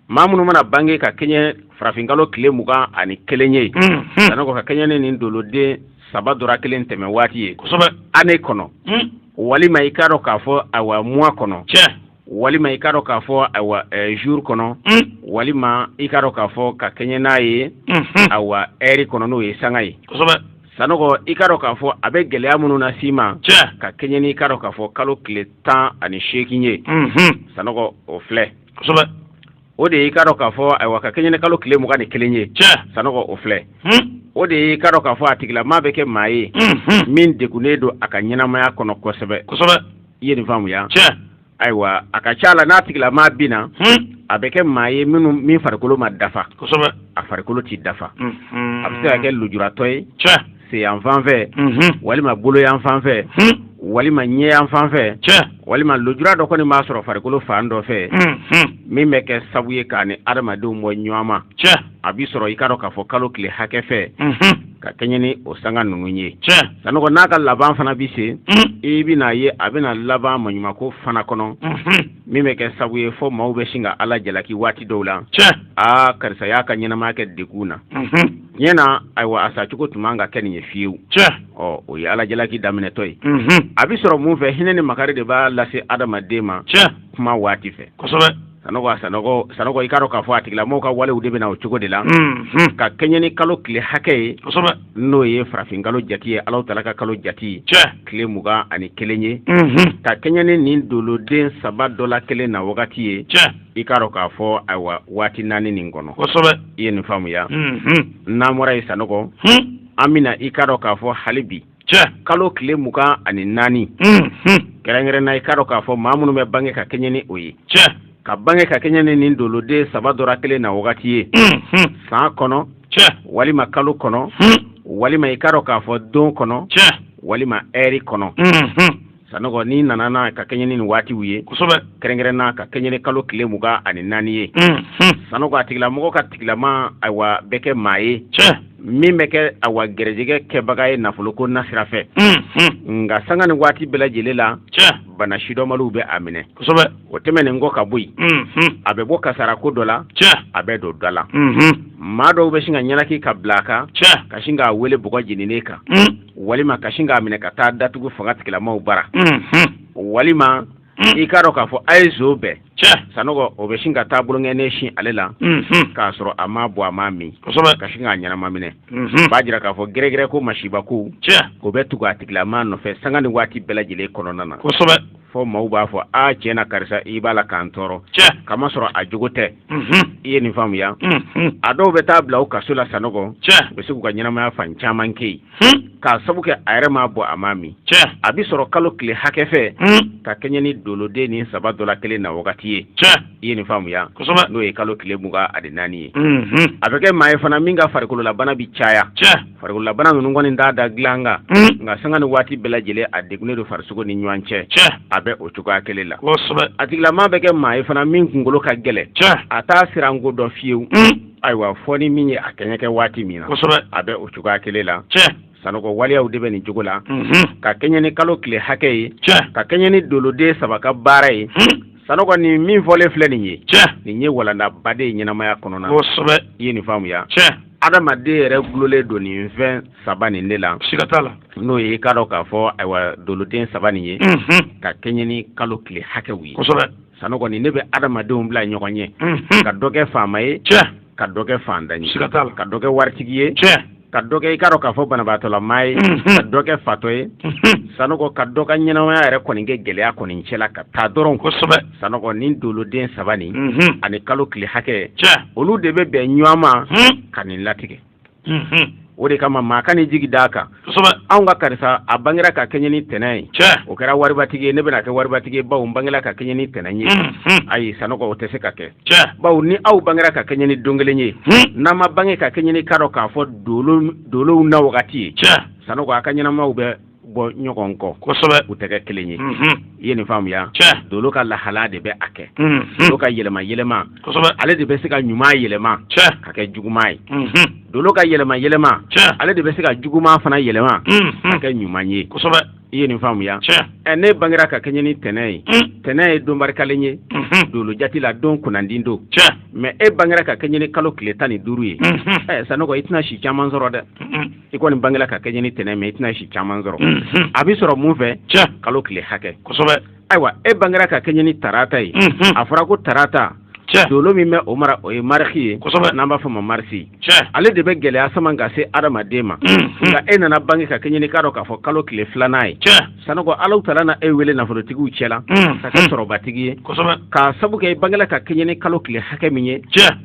maa minnu mana bange ka kɛɲɛ farafinkalo tile mugan ani kelen ye sanɔgɔ ka kɛɲɛ ni nin doloden saba dɔra kelen tɛmɛ waati ye année kɔnɔ walima i k'a dɔn k'a fɔ ayiwa mois kɔnɔ walima i k'a dɔn k'a fɔ ayiwa jour kɔnɔ walima i k'a dɔn k'a fɔ ka kɛɲɛ n'a ye ayiwa heure kɔnɔ n'o ye sanga ye sanɔgɔ i k'a dɔn k'a fɔ a bɛ gɛlɛya minnu nas'i ma ka kɛɲɛ ni i k'a dɔn k'a fɔ kalo tile tan ani seegin ye sanɔgɔ o filɛ kosɛbɛ o de ye i k'a dɔn k'a fɔ ayiwa ka kɛɲɛ ni kalo tile mugan ni kelen ye tiɲɛ sanɔgɔ o filɛ o de ye i k'a dɔn k'a fɔ a tigilamaa bɛ kɛ maa ye min degunnen don a ka ɲɛnamaya kɔnɔ kosɛbɛ kosɛbɛ i ye nin faamuya tiɲɛ ayiwa a ka ca la n'a tigilamaa bɛ na a bɛ kɛ maa ye min farikolo ma dafa kosɛbɛ a farikolo tɛ dafa a bɛ se ka kɛ lujuratɔ ye tiɲɛ sen yanfan fɛ walima bolo yanfan fɛ walima ɲɛ yanfan fɛ walima lujura dɔ kɔni b'a sɔrɔ farikolo fan dɔ fɛ min bɛ kɛ sabu ye k'a ni adamadenw bɔ ɲɔgɔn ma a bɛ sɔrɔ i k'a dɔn k'a fɔ kalo tile hakɛ fɛ ka kɛɲɛ ni o sanga ninnu ye sanɔgɔ n'a ka laban fana bɛ se i bɛna a ye a bɛna laban maɲumako fana kɔnɔ min bɛ kɛ sabu ye fɔ maaw bɛ sin ka ala jalaki waati dɔw la aa karisa y'a ka ɲɛnamaya kɛ degun na diɲɛ na ayiwa a sacogo tun man ka kɛ nin ye fiyewu ɔ o ye ala jalaki daminɛtɔ ye mhm. a bɛ sɔrɔ mun fɛ hinɛ ni makari de b'a lase adamaden ma kuma waati fɛ kosɛbɛ sanɔgɔ i k'a dɔn k'a fɔ a tigilamɔgɔw ka walew de bɛna o cogo de la mhm. ka kɛɲɛ ni kalo tile hakɛ ye n'o ye farafin kalo jate ye ala taala ka kalo jate ye tile mugan ani kelen ye mhm. ka kɛɲɛ ni nin doloden saba dɔ la kelen na wagati ye i k'a dɔn k'a fɔ ayiwa waati naani nin kɔnɔ kosɛbɛ i ye nin faamuya n'an bɔra yen sanɔgɔ an bɛna i k'a dɔn k'a fɔ hali bi kalo tile mugan ani naani kɛrɛnkɛrɛn na i k'a dɔn k'a fɔ maa minnu bɛ bange ka kɛɲɛ ni o ye ka bange ka kɛɲɛ ni nin doloden saba dɔra kelen na wagati ye san kɔnɔ walima kalo kɔnɔ walima i k'a dɔn k'a fɔ don kɔnɔ walima heure kɔnɔ sanɔgɔ n'i nana na ka kɛɲɛ ni nin waatiw ye kosɛbɛ kɛrɛnkɛrɛn na ka kɛɲɛ ni kalo tile mugan ani naani ye sanɔgɔ a tigilamɔgɔ ka tigilama ayiwa bɛ kɛ maa ye min bɛ kɛ ayiwa gɛrɛjɛgɛ kɛbaga ye nafolo ko nasira fɛ nka sanga ni waati bɛɛ lajɛlen la bana sidɔnbaliw bɛ a minɛ kosɛbɛ o tɛmɛnen kɔ ka bɔ yen a bɛ bɔ kasara ko dɔ la a bɛ don dɔ la maa dɔw bɛ sin ka ɲɛnaki ka bila a kan ka sin k'a wele bɔgɔ jeninen kan walima ka sin k'a minɛ ka taa datugu fanga tigilamaw bara walima i k'a dɔn k'a fɔ a ye zo bɛɛ sanɔgɔ o bɛ sin ka taa bolonkɔni sin ale la k'a sɔrɔ a ma bɔ a ma min ka sin k'a ɲɛnama minɛ b'a jira k'a fɔ gɛrɛgɛrɛ ko masiba ko o bɛ tugu a tigilamaa nɔfɛ sanga ni waati bɛɛ lajɛlen kɔnɔna na fɔ maaw b'a fɔ a tiɲɛ na karisa i b'a la k'an tɔɔrɔ k'a masɔrɔ a jogo tɛ mhm. i ye nin faamuya mhm. a dɔw bɛ taa bila u kaso la sanɔgɔ u bɛ se k'u ka ɲɛnamaya fan caman kɛ yen hmm. k'a sabu kɛ a yɛrɛ m'a bɔ a m'a min a bɛ sɔrɔ kalo tile hakɛ fɛ hmm. ka kɛɲɛ ni doloden nin saba dɔ la kelen na wagati ye i ye nin faamuya n'o ye kalo tile mugan ani naani ye mhm. a bɛ kɛ maa ye fana min ka farikololabana bi caya farikololabana ninnu kɔni t'a da dilan kan mhm. nka sanga ni waati bɛɛ lajɛlen a degunnen don farisogo ni ɲɔgɔn cɛ a bɛ o cogoya kelen la a tigilama bɛ kɛ maa ye fana min kunkolo ka gɛlɛn a t'a siran ko dɔn fiyewu mhm. ayiwa fɔ ni min ye a kɛɲɛ kɛ waati min na a bɛ o cogoya kelen la sanɔgɔ waleyaw de bɛ nin cogo la ka kɛɲɛ ni kalo tile hakɛ ye ka kɛɲɛ ni doloden saba ka baara ye sanɔgɔ nin min fɔlen filɛ nin ye tiɲɛ nin ye walandaba de ye ɲɛnamaya kɔnɔna kosɛbɛ i ye nin faamuya tiɲɛ adamaden yɛrɛ gulolen don nin fɛn saba nin de la siga t'a la n'o ye i k'a dɔn k'a fɔ ayiwa doloden saba nin ye ka kɛɲɛ ni kalo tile hakɛw ye kosɛbɛ sanɔgɔ nin ne bɛ adamadenw bila ɲɔgɔn ɲɛ ka dɔ kɛ faama ye tiɲɛ ka dɔ kɛ fantan ye siga t'a la ka dɔ kɛ waritigi ye tiɲɛ ka dɔ kɛ i k'a dɔn k'a fɔ banabaatɔla maa ye ka dɔ kɛ fatɔ ye sanɔgɔ ka dɔ ka ɲɛnamaya yɛrɛ kɔni kɛ gɛlɛya kɔni cɛla ka taa dɔrɔn kosɛbɛ sanɔgɔ nin doloden saba nin ani kalo tile hakɛ olu de bɛ bɛn ɲɔgɔn ma ka nin latigɛ o de kama maa kan'i jigi d'a kan anw ka karisa a bangera ka kɛɲɛ ni tɛnɛn ye o kɛra waribatigi ye ne bɛna kɛ waribatigi ye bawo n bangela ka kɛɲɛ ni tɛnɛn ye ayi sanɔgɔ o tɛ se ka kɛ bawo ni aw bangera ka kɛɲɛ ni don kelen ye hmm. n'aw ma bange ka kɛɲɛ ni i k'a dɔn k'a fɔ dolow na wagati ye sanɔgɔ a ka ɲɛnamaw bɛ bɔ ɲɔgɔn kɔ kosɛbɛ u tɛ kɛ kelen ye hmm. i ye nin faamuya dolo ka lahala de bɛ a kɛ hmm. dolo ka yɛlɛma yɛlɛma ale de bɛ se ka ɲuman yɛlɛma ka kɛ juguman ye dolo ka yɛlɛma yɛlɛma ale de bɛ se ka juguman fana yɛlɛma ka kɛ ɲuman ye kosɛbɛ i ye nin faamuya ɛ ne bangera ka kɛɲɛ ni tɛnɛn ye mm. tɛnɛn ye don barikalen ye mm-hmm. dolo jati la don kunnandi don mɛ e bangera ka kɛɲɛ ni kalo tile tan ni duuru ye mm-hmm. ɛ sanɔgɔ i tɛna si caman sɔrɔ dɛ mm-hmm. i kɔni bangera ka kɛɲɛ ni tɛnɛn mɛ i tɛna si caman sɔrɔ a bɛ sɔrɔ mun fɛ kalo tile hakɛ kosɛbɛ ayiwa e bangera ka kɛɲɛ ni tarata ye a fɔra ko tarata dolo min bɛ o mara o ye mariki ye n'an b'a f'a ma marisi ale de bɛ gɛlɛya sama ka se adamaden ma nka e nana bange ka kɛɲɛ ni i k'a dɔn k'a fɔ kalo tile filanan ye sanɔgɔ alahu taala na e wele nafolotigiw cɛ la ka kɛ sɔrɔbatigi ye k'a sabu kɛ e bangela ka kɛɲɛ ni kalo tile hakɛ min ye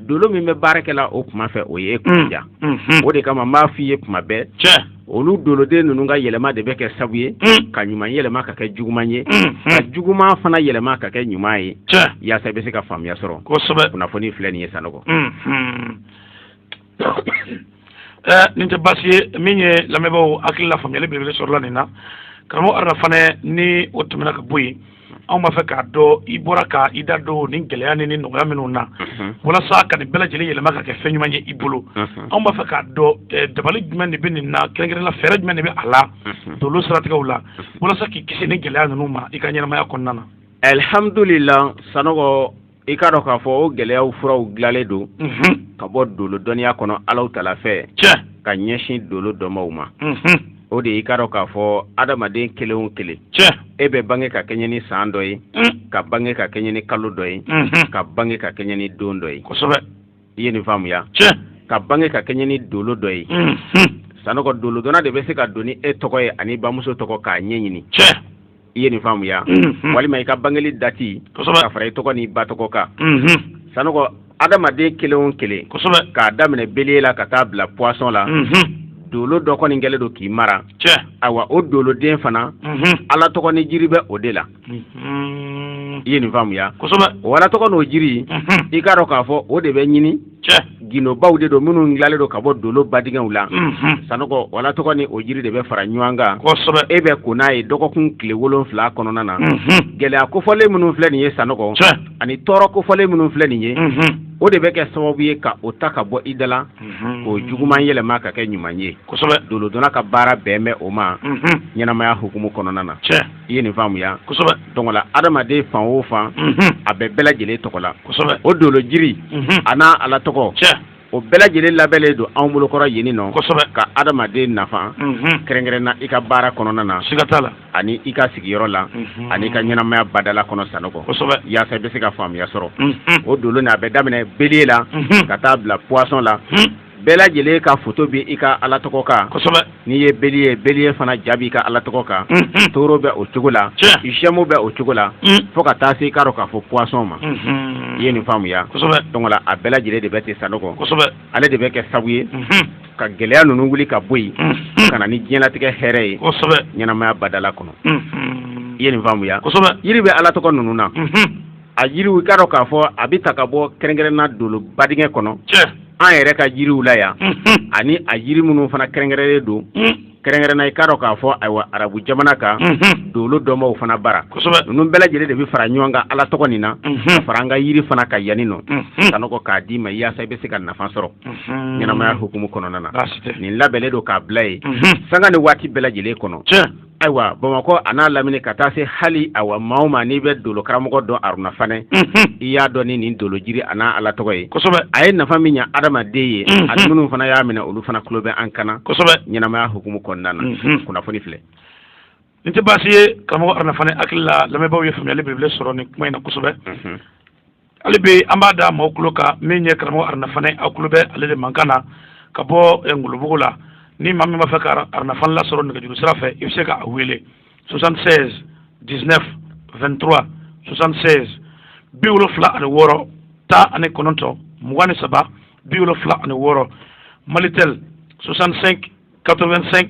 dolo min bɛ baara kɛ la o kuma fɛ o ye e kun ja o de kama n b'a f'i ye kuma bɛɛ olu doloden ninnu ka yɛlɛma de bɛ kɛ sabu ye mm. ka ɲuman yɛlɛma ka kɛ juguman ye mm, mm. ka juguman fana yɛlɛma ka kɛ ɲuman ye yaasa i bɛ se ka faamuya sɔrɔ kosɛbɛ kunnafoni filɛ nin ye sanɔgɔ eh, nin tɛ baasi ye min ye lamɛnbaaw hakili la faamuyali belebele sɔrɔla nin na karamɔgɔ aruna fanɛ ni o tɛmɛna ka bɔ yen anw b'a fɛ k'a dɔn i bɔra ka i da don nin gɛlɛya ni ni nɔgɔya minnu na walasa ka nin bɛɛ lajɛlen yɛlɛma ka kɛ fɛn ɲuman ye i bolo anw b'a fɛ k'a dɔn eh, dabali jumɛn de bɛ nin na kɛrɛnkɛrɛnla fɛɛrɛ jumɛn de bɛ a la dolo siratigɛw la walasa k'i kisi nin gɛlɛya ninnu ma i ka ɲɛnamaya kɔnɔna na alihamdulila sanɔgɔ i k'a dɔn k'a fɔ o gɛlɛyaw furaw dilanlen don ka bɔ dolo dɔnniya kɔnɔ alahu taala fɛ ka ɲɛsin dolo dɔnbaaw ma o de i k'a dɔn k'a fɔ adamaden kelen o kelen e bɛ bange ka kɛɲɛ ni san dɔ ye ka bange ka kɛɲɛ ni kalo dɔ ye ka bange ka kɛɲɛ ni don dɔ ye i ye nin faamuya ka bange ka kɛɲɛ ni dolo dɔ ye sanɔgɔ dolodɔnna de bɛ se ka don ni e tɔgɔ ye ani bamuso tɔgɔ k'a ɲɛɲini i ye nin faamuya mhm. walima i ka bangeli dati ka fara i tɔgɔ ni ba tɔgɔ kan mhm. sanɔgɔ adamaden kelen o kelen k'a daminɛ bélier la ka taa bila poisson la mhm. dolo dɔ kɔni kɛlen don k'i mara ayiwa o doloden fana ala tɔgɔ ni jiri bɛ o de la i ye nin faamuya o ala tɔgɔ n'o jiri i k'a dɔn k'a fɔ o de bɛ ɲini gundobaw de don minnu dilanlen don ka bɔ dolo badingɛw la sanɔgɔ o ala tɔgɔ ni o jiri de bɛ fara ɲɔgɔn kan e bɛ ko n'a ye dɔgɔkun tile wolonwula kɔnɔna na gɛlɛya kofɔlen minnu filɛ nin ye sanɔgɔ ani tɔɔrɔ kofɔlen minnu filɛ nin ye o de bɛ kɛ sababu ye ka o ta ka bɔ i da la k'o juguman yɛlɛma ka kɛ ɲuman ye dolodɔnna ka baara bɛn bɛ o ma ɲɛnamaya hukumu kɔnɔna na i ye nin faamuya donc la adamaden fan o fan a bɛ bɛɛ lajɛlen tɔgɔ la o dolo jiri a n'a ala tɔgɔ o bɛɛ lajɛlen labɛnnen don anw bolokɔrɔ yen nɔ ka adamaden nafa kɛrɛnkɛrɛn na i ka baara kɔnɔna na la ani i ka sigiyɔrɔ la ani i ka ɲɛnamaya badala kɔnɔ sanɔgɔ yaasa i bɛ se ka faamuya sɔrɔ o dolo n'a bɛ daminɛ bélier la ka taa bila poisson la bɛɛ lajɛlen ka foto bɛ i ka ala tɔgɔ kan kosɛbɛ n'i ye bélier bélier fana ja b'i ka ala tɔgɔ kan mhm. taureau bɛ o cogo la gémeaux bɛ o cogo la mhm. fo ka taa se i k'a dɔn k'a fɔ poisson ma mhm. i ye nin faamuya kosɛbɛ donc la a bɛɛ lajɛlen de bɛ ten sanɔgɔ kosɛbɛ ale de bɛ kɛ sabu ye ka gɛlɛya ninnu wuli ka bɔ yen ka na ni diɲɛlatigɛ hɛrɛ ye kosɛbɛ ɲɛnamaya badala kɔnɔ i ye nin faamuya kosɛbɛ yiri bɛ ala tɔgɔ ninnu na a yiriw i k'a dɔn k'a fɔ a bɛ ta ka bɔ kɛrɛnkɛrɛnna dolo badingɛ kɔnɔ an yɛrɛ ka jiriw la yan ani a yiri minnu fana kɛrɛnkɛrɛnnen don kɛrɛnkɛrɛnna i k'a dɔn k'a fɔ ayiwa arabu jamana kan dolo dɔnbaaw fana bara ninnu bɛɛ lajɛlen de bɛ fara ɲɔgɔn kan ala tɔgɔ nin na ka fara an ka yiri fana kan yanni nɔ sanɔgɔ k'a d'i ma yaasa i bɛ se ka nafa sɔrɔ ɲɛnamaya hukumu kɔnɔna na nin labɛnnen don k'a bila yen sanga ni waati bɛɛ lajɛlen kɔnɔ ayiwa bamakɔ a n'a lamini ka taa se hali awa maa o maa n'i bɛ dolo karamɔgɔ dɔn aruna fanɛ i y'a dɔn ni nin dolo jiri a n'a ala tɔgɔ ye a ye nafa min ɲɛ adamaden ye a minnu fana y'a minɛ olu fana tulo bɛ an kan na ɲɛnamaya hukumu kɔnɔna na kunnafoni filɛ nin tɛ baasi ye karamɔgɔ aruna fanɛ hakili la lamɛnbaaw ye faamuyali belebele sɔrɔ nin kuma in na kosɛbɛ hali bi an b'a da maaw tulo kan min ye karamɔgɔ aruna fanɛ aw tulo bɛ ale de mankan na ka bɔ eh, ngolobugu la ni maa min b'a fɛ ka aruna fanɛ lasɔrɔ nɛgɛjuru sira fɛ i bɛ se ka a wele 76 19 23 76 bi wolonfila ani wɔɔrɔ tan ani kɔnɔntɔn mugan ni saba bi wolonfila ani wɔɔrɔ malitel 65 85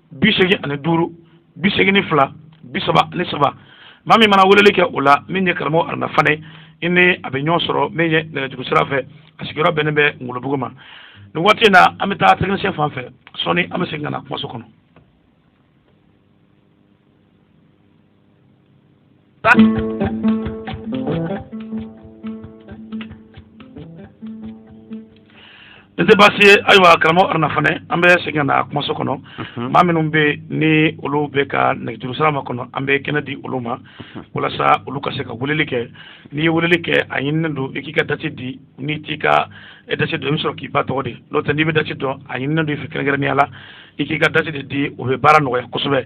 bi seegin ani duuru bi seegin ni fila bi saba ni saba maa min mana weleli kɛ o la min ye karamɔgɔ aruna fanɛ i ni a bɛ ɲɔgɔn sɔrɔ min ye nɛgɛjuru sira fɛ a sigiyɔrɔ bɛnnen bɛ ngolobugu ma nin waati in na an bɛ taa tɛkinisiyɛn fan fɛ sɔɔni an bɛ segin ka na kumaso kɔnɔ N tɛ baasi ye ayiwa karamɔgɔ aruna fanɛ an bɛ segin ka na kumaso kɔnɔ maa minnu bɛ ni olu bɛ ka nɛgɛjuru sira makɔnɔ an bɛ kɛnɛ di olu ma walasa olu ka se ka weleli kɛ n'i ye weleli kɛ a ɲininen don i k'i ka dati di n'i t'i ka dati dɔn i bɛ sɔrɔ k'i ba tɔgɔ di n'o tɛ n'i bɛ dati dɔn a ɲininen don i fɛ kɛrɛnkɛrɛnya la i k'i ka dati de di o bɛ baara nɔgɔya kosɛbɛ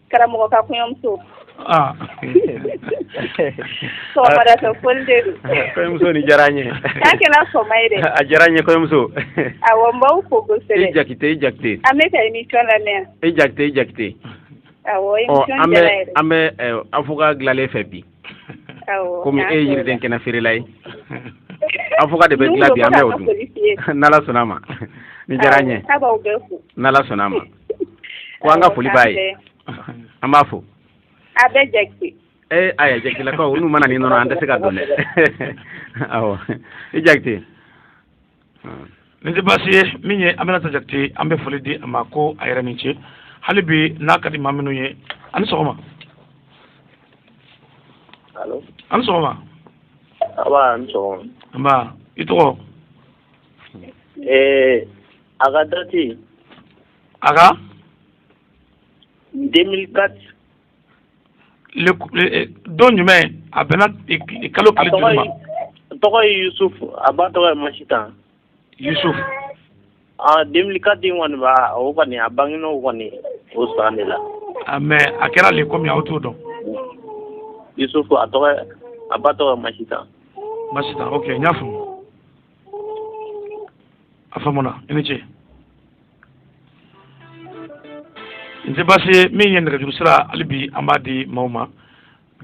Karamɔgɔ ka kɔɲɔmuso. Aa sɔgɔmada fɛ foli de don. Kɔɲɔmuso nin diyara an ye. K'a kɛla sɔgɔma ye dɛ. A diyara an ye kɔɲɔmuso. Awɔ n b'aw fo kosɛbɛ. I Jakite i Jakite. An bɛ ka émission lamɛn yan. I Jakite i Jakite. Awɔ émission diyara an yɛrɛ. An bɛ avocat dilanlen fɛ bi. Awɔ. Komi e ye yiriden kɛnɛ feerela ye. Avocat de bɛ dilan bi an bɛ o dun. N'Ala sɔnn'a ma. Nin diyara an ye. Awɔ k'a b'aw bɛɛ fo. N'Ala sɔnn'a ma. ko an ka foli b'a ye an b'a fo a bɛ jakite ee aya jakitelakaw n'u ma na ni nɔnɔ an tɛ se k'a dɔn dɛ awɔ i jakite nin tɛ baasi ye min ye aminata jakite an bɛ foli di a ma ko a yɛrɛ ni ce hali bi n'a ka di maa minnu ye a ni sɔgɔma alo a ni sɔgɔma an sɔgɔma nba i tɔgɔ ee A ka date a ka 2004 don jumɛn a bɛnna kalo joli ma tɔgɔ ye yusuf a ba tɔgɔ ye masitan yusuf 2004 in kɔni b'a o kɔni a bangena o kɔni o san de la mais a kɛra le kɔmi aw t'o dɔn yusuf a ba tɔgɔ ye masitan ok n y'a faamu a faamuna i ni ce n tɛ baasi ye min ye nɛgɛjuru sira hali bi an b'a di maaw ma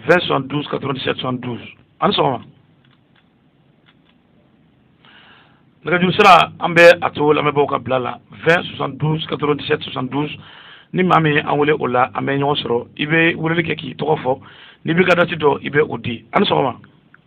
20 72 97 72 ani sɔgɔma nɛgɛjuru sira an bɛ a to lamɛnbaaw ka bila la 20 72 97 72 ni maa min ye an wele o la an bɛ ɲɔgɔn sɔrɔ i bɛ weleli kɛ k'i tɔgɔ fɔ n'i b'i ka dati dɔn i bɛ o di ani sɔgɔma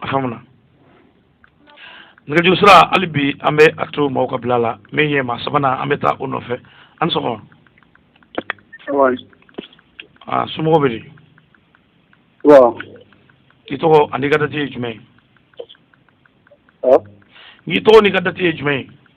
a faamuna nɛgɛjuru sira hali bi an bɛ a to maaw ka bila la min ye maa sabanan an bɛ taa o nɔfɛ an ni sɔgɔma aa somɔgɔw bɛ di k'i tɔgɔ an'i ka dati ye jumɛn ye k'i tɔgɔ n'i ka dati ye jumɛn ye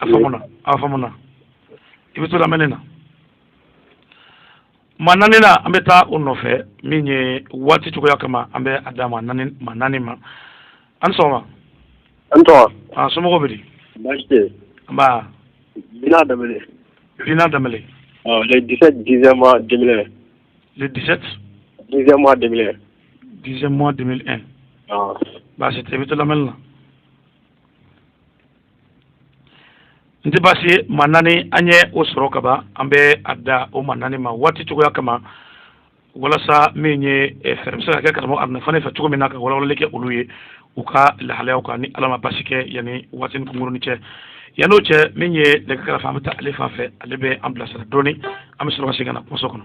a faamuna a faamuna i bɛ to lamɛnni na maa naaninan an bɛ taa o nɔfɛ min ye waati cogoya kama an bɛ a dan maa naani maa naani ma an sɔgɔma an sɔgɔma a somɔgɔw bɛ di baasi tɛ yen nba bina damele bina damele ɔ le 17 dixième mois 2001 le 17 dixième mois 2001 dixième mois 2001 ɔ baasi tɛ i bɛ to lamɛnni na n tɛ baasi ye maa naani an ye o sɔrɔ ka ban an bɛ a dan o maa naani ma waati cogoya kama walasa min ye eh, fɛɛrɛ bɛ se ka kɛ karamɔgɔ aruna fane fɛ cogo min na ka walawalali kɛ olu ye u ka lahalayaw kan ni ala ma basi kɛ yanni waatinin kunkurunnin cɛ yann'o cɛ min ye nɛgɛ kɛrɛfɛ an bɛ taa ale fan fɛ ale bɛ an bilasira dɔɔni an bɛ sɔrɔ ka segin ka na kumaso kɔnɔ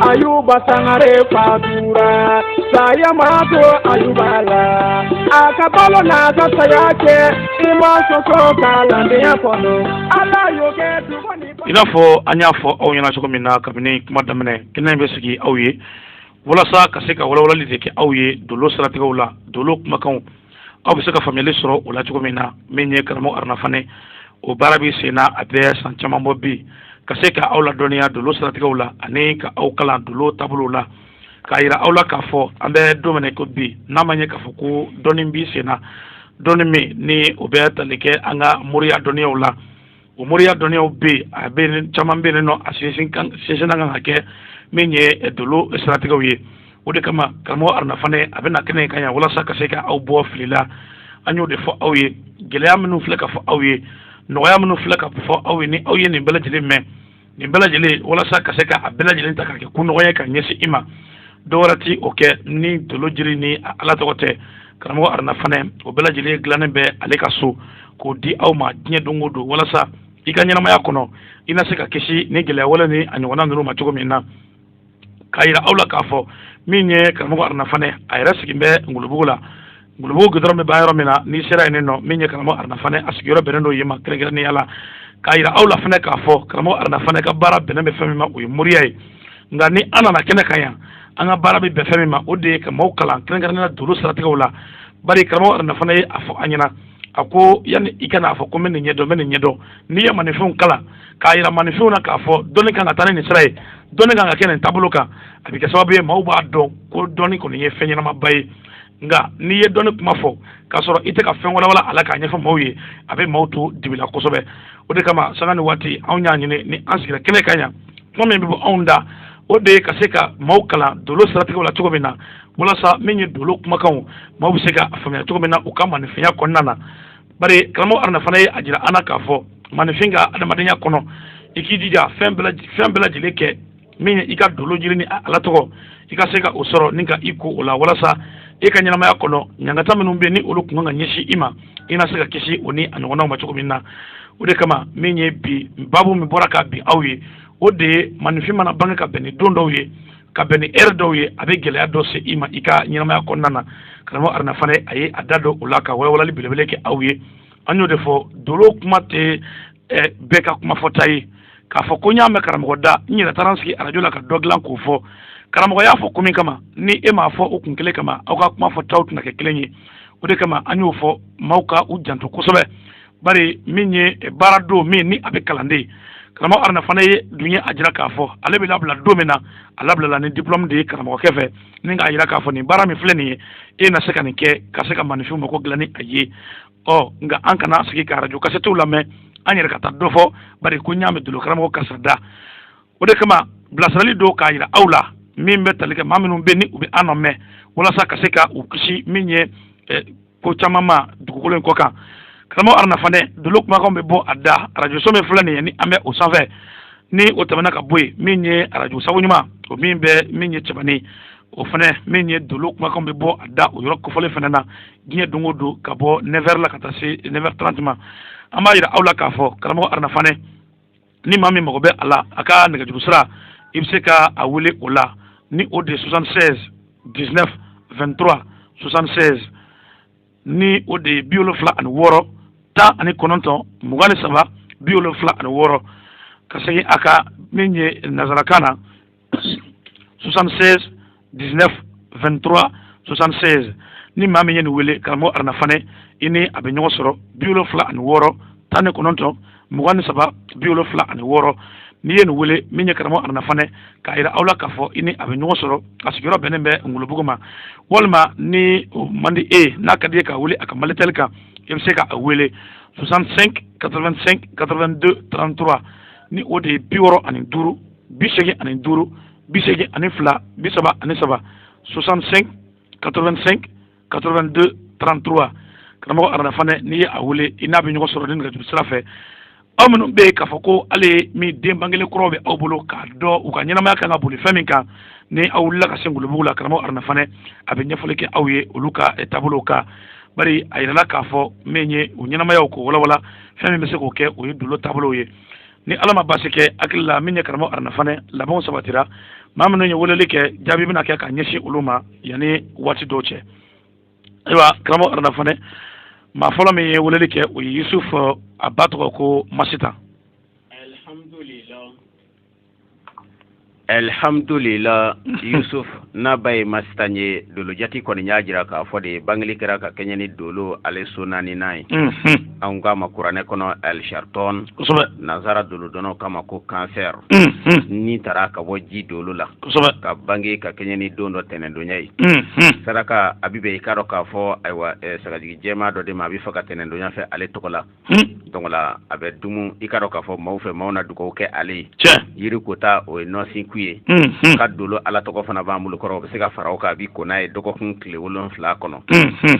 ayuba sangare fatura saya ma to ayuba la a ka balo n'a ka saya kɛ i ma sɔsɔ kalandenya kɔnɔ ala y'o kɛ dugu ni. i n'a fɔ an y'a fɔ aw ɲɛna cogo min na kabini kuma daminɛ kɛnɛ in bɛ sigi aw ye walasa ka se ka walawalali de kɛ aw ye dolo siratigɛw la dolo kumakanw aw bɛ se ka faamuyali sɔrɔ o la cogo min na min ye karamɔgɔ aruna fane o baara bɛ sen na a bɛ san caman bɔ bi ka se ka aw ladɔnniya dolo siratigɛw la ani ka aw kalan dolo taabolow la k'a yira aw la k'a fɔ an bɛ don min na ko bi n'a ma ɲɛ k'a fɔ ko dɔnni bɛ sen na dɔnni min ni o bɛ tali kɛ an ka moriya dɔnniyaw la o moriya dɔnniyaw bɛ yen a bɛ yen caman bɛ yen nɔ a sinsin kan sinsinna kan ka kɛ min ye dolo siratigɛw ye o de kama karamɔgɔ aruna fanɛ a bɛ na kɛnɛ kan yan walasa ka se ka aw bɔ fili la an y'o de fɔ aw ye gɛlɛya minnu filɛ ka fɔ aw ye nɔgɔya minnu filɛ ka fɔ aw ye ni aw ye nin bɛɛ lajɛlen mɛn nin bɛɛ lajɛlen walasa ka se ka a bɛɛ lajɛlen ta ka kɛ ko nɔgɔya ka ɲɛsin i ma dɔwɛrɛ ti o kɛ ni dolo jiri ni a ala tɔgɔ tɛ karamɔgɔ aruna fanɛ o bɛɛ lajɛlen dilannen bɛ ale ka so k'o di aw ma diɲɛ don o don walasa i ka ɲɛnamaya kɔnɔ i na se ka kisi ni gɛlɛya wale ni a ɲɔgɔnna ninnu ma cogo min na k'a yira aw la k'a fɔ min ye karamɔgɔ aruna fanɛ a yɛrɛ sigin bɛ ngolobugu la ngolobugu gudɔrɔn bɛ ban yɔrɔ min na n'i sera yen nɔ min ye karamɔgɔ aruna fanɛ a sigiyɔrɔ bɛnnen don yen ma kɛrɛnkɛrɛnnenya la k'a yira aw la fana k'a fɔ karamɔgɔ aruna fanɛ ka baara bɛnnen bɛ fɛn min ma o ye moriya ye nka ni an nana kɛnɛ kan yan an ka baara bɛ bɛn fɛn min ma o de ye ka maaw kalan kɛrɛnkɛrɛnnenya dolo siratigɛw la bari karamɔgɔ aruna fanɛ ye a fɔ an ɲɛna a ko yanni i ka n'a fɔ ko n bɛ nin ɲɛdɔn n bɛ nin ɲɛdɔn n'i ye maninfinw kalan k'a yira maninfinw na k'a fɔ dɔnni kan ka taa ni nin sira ye dɔnni kan ka kɛ nin taabolo kan a bɛ kɛ sababu ye maaw b'a dɔn ko dɔnni kɔni ye fɛn ɲɛnamaba ye nka n'i ye dɔnni kuma fɔ k'a sɔrɔ i tɛ ka fɛn walawala a la k'a ɲɛfɔ maaw ye a bɛ maaw to dibi la kosɛbɛ o de kama sanga ni waati anw y'a ɲini ni an sigira kɛnɛ kan yan kuma min bɛ bɔ anw da o de ye ka se ka maaw kalan dolo siratigɛw la cogo min na walasa min ye dolo kumakanw maaw bɛ se ka a faamuya cogo min na u ka maninfinya kɔnɔna na bari karamɔgɔ aruna fanɛ ye a jira an na k'a fɔ maninfin ka adamadenya kɔnɔ i k'i jija fɛn bɛɛ lajɛlen kɛ min ye i ka dolo jiri ni ala tɔgɔ i ka se ka o sɔrɔ ni ka i ko o la walasa e ka ɲɛnamaya kɔnɔ ɲangata minnu bɛ ni olu kun kan ka ɲɛsin i ma i na se ka kisi o ni a ɲɔgɔnnaw ma cogo min na o de kama min ye bi babu min bɔra ka bin aw ye o de ye maninfin mana bange ka bɛn ni don dɔw ye ka bɛn ni ɛri dɔw ye a bɛ gɛlɛya dɔ se i ma i ka ɲɛnamaya kɔnɔna na karamɔgɔ aruna fanɛ a ye a da don o la ka walawalali belebele kɛ aw ye an y'o de fɔ dolo kuma tɛ bɛɛ ka kuma fɔta ye k'a fɔ ko n y'a mɛn karamɔgɔ da n yɛrɛ taara n sigi arajo la ka dɔ dilan k'o fɔ karamɔgɔ y'a fɔ ko min kama ni e m'a fɔ o kun kelen kama aw ka kuma fɔtaw tɛna kɛ kelen ye o de kama an y'o fɔ maaw ka u janto kosɛbɛ bari min ye baara don min ni a bɛ kalan de karamɔgɔ aruna fanɛ ye dun ye a jira k'a fɔ ale bɛ labila don min na a labilala ni diplɔmu de ye karamɔgɔkɛ fɛ ni k'a jira k'a fɔ nin baara min filɛ nin ye e na se ka nin kɛ ka se ka maninfinw mako dilan ni a ye ɔ nka an kana sigi ka arajo kasɛtiw lamɛn an yɛrɛ ka taa dɔ fɔ bari ko n y'a mɛn dolo karamɔgɔ karisa da o de kama bilasirali don k'a jira aw la min bɛ tali kɛ maa minnu bɛ ni u bɛ an lamɛn walasa ka se ka u kisi min ye ko caman ma dugukolo in kɔ kan karamɔgɔ aruna fanɛ dolo kumakanw bɛ bɔ a da arajoso min filɛ nin ye ni an bɛ o sanfɛ ni o tɛmɛna ka bɔ yen min ye arajo sabu ɲuman o min bɛ min ye cɛbanin o fana min ye dolo kumakanw bɛ bɔ a da o yɔrɔ kofɔlen fana na diɲɛ don o don ka bɔ 9 h la ka taa se 9 h 30 ma an b'a jira aw la k'a fɔ karamɔgɔ aruna fanɛ ni maa min mago bɛ a la a ka nɛgɛjuru sira i bɛ se ka a wele o la ni o de ye soixante seize dix neuf vingt trois soixante seize ni o de ye bi wolonfila ani wɔɔrɔ tan ani kɔnɔntɔn mugan ni saba bi wolonfila ani wɔɔrɔ ka segin a kan min ye nanzarakan na 76 19 23 76 ni maa min ye nin wele karamɔgɔ aruna fanɛ i ni a bɛ ɲɔgɔn sɔrɔ bi wolonfila ani wɔɔrɔ tan ni kɔnɔntɔn mugan ni saba bi wolonfila ani wɔɔrɔ n'i ye nin wele min ye karamɔgɔ aruna fanɛ k'a yira aw la k'a fɔ i ni a bɛ ɲɔgɔn sɔrɔ a sigiyɔrɔ bɛnnen bɛ ngolobugu ma walima ni o man di e ye n'a ka di i ye k'a wele a ka malitɛli kan i bɛ se ka a wele 65 85 82 33 ni o de ye bi wɔɔrɔ ani duuru bi seegin ani duuru bi seegin ani fila bi saba ani saba soixante cinq quatre vingt cinq quatre vingt deux trente trois karamɔgɔ aruna fanɛ n'i ye a wele i n'a bɛ ɲɔgɔn sɔrɔ ni nɛgɛjuru sira fɛ aw minnu bɛ yen k'a fɔ ko ale min den bangelen kuraw bɛ aw bolo k'a dɔn u ka ɲɛnamaya kan ka boli fɛn min kan ni aw wulila ka se ngolobugu la karamɔgɔ aruna fanɛ a bɛ ɲɛfɔli kɛ aw ye olu ka eh, taabolow kan bari a yirala k'a fɔ min ye u ɲɛnamayaw k'o walawala fɛn min bɛ se k'o kɛ o ye dolo taabolow ye ni ala ma baasi kɛ hakili la min ye karamɔgɔ aruna fanɛ labɛnw sabatira maa minnu ye weleli kɛ jaabi bɛna kɛ ka ɲɛsin olu ma yanni waati dɔw cɛ ayiwa karamɔgɔ aruna fanɛ maa fɔlɔ min ye weleli kɛ o ye yusuf a ba tɔgɔ ko masitan alhamdulila yusuf n'a ba ye masitan ye dolo jati kɔni y'a jira k'a fɔ de bangeli kɛra ka kɛɲɛ ni dolo ale so naaninan ye mhm. anw k'a ma kuranɛ kɔnɔ alsharton nansara dolodɔnnaw k'a ma ko cancer mhm. nin tara ka bɔ ji dolo la ka bange ka kɛɲɛ ni don dɔ tɛnɛndonya ye mhm. saraka a bɛ bɛn i k'a dɔn k'a fɔ ayiwa eh, sagajigi jɛman dɔ de ma a bɛ faga tɛnɛndonya fɛ ale tɔgɔ la Hmm. donc la a bɛ dumu i k'a dɔn k'a fɔ maaw fɛ maaw na dugawu kɛ ale ye tiɲɛ yiri kota o ye nɔnsiku ye hmm, hmm. ka dolo ala tɔgɔ fana b'an bolo kɔrɔ o bɛ se ka fara o kan a b'i ko n'a ye dɔgɔkun tile wolonfila kɔnɔ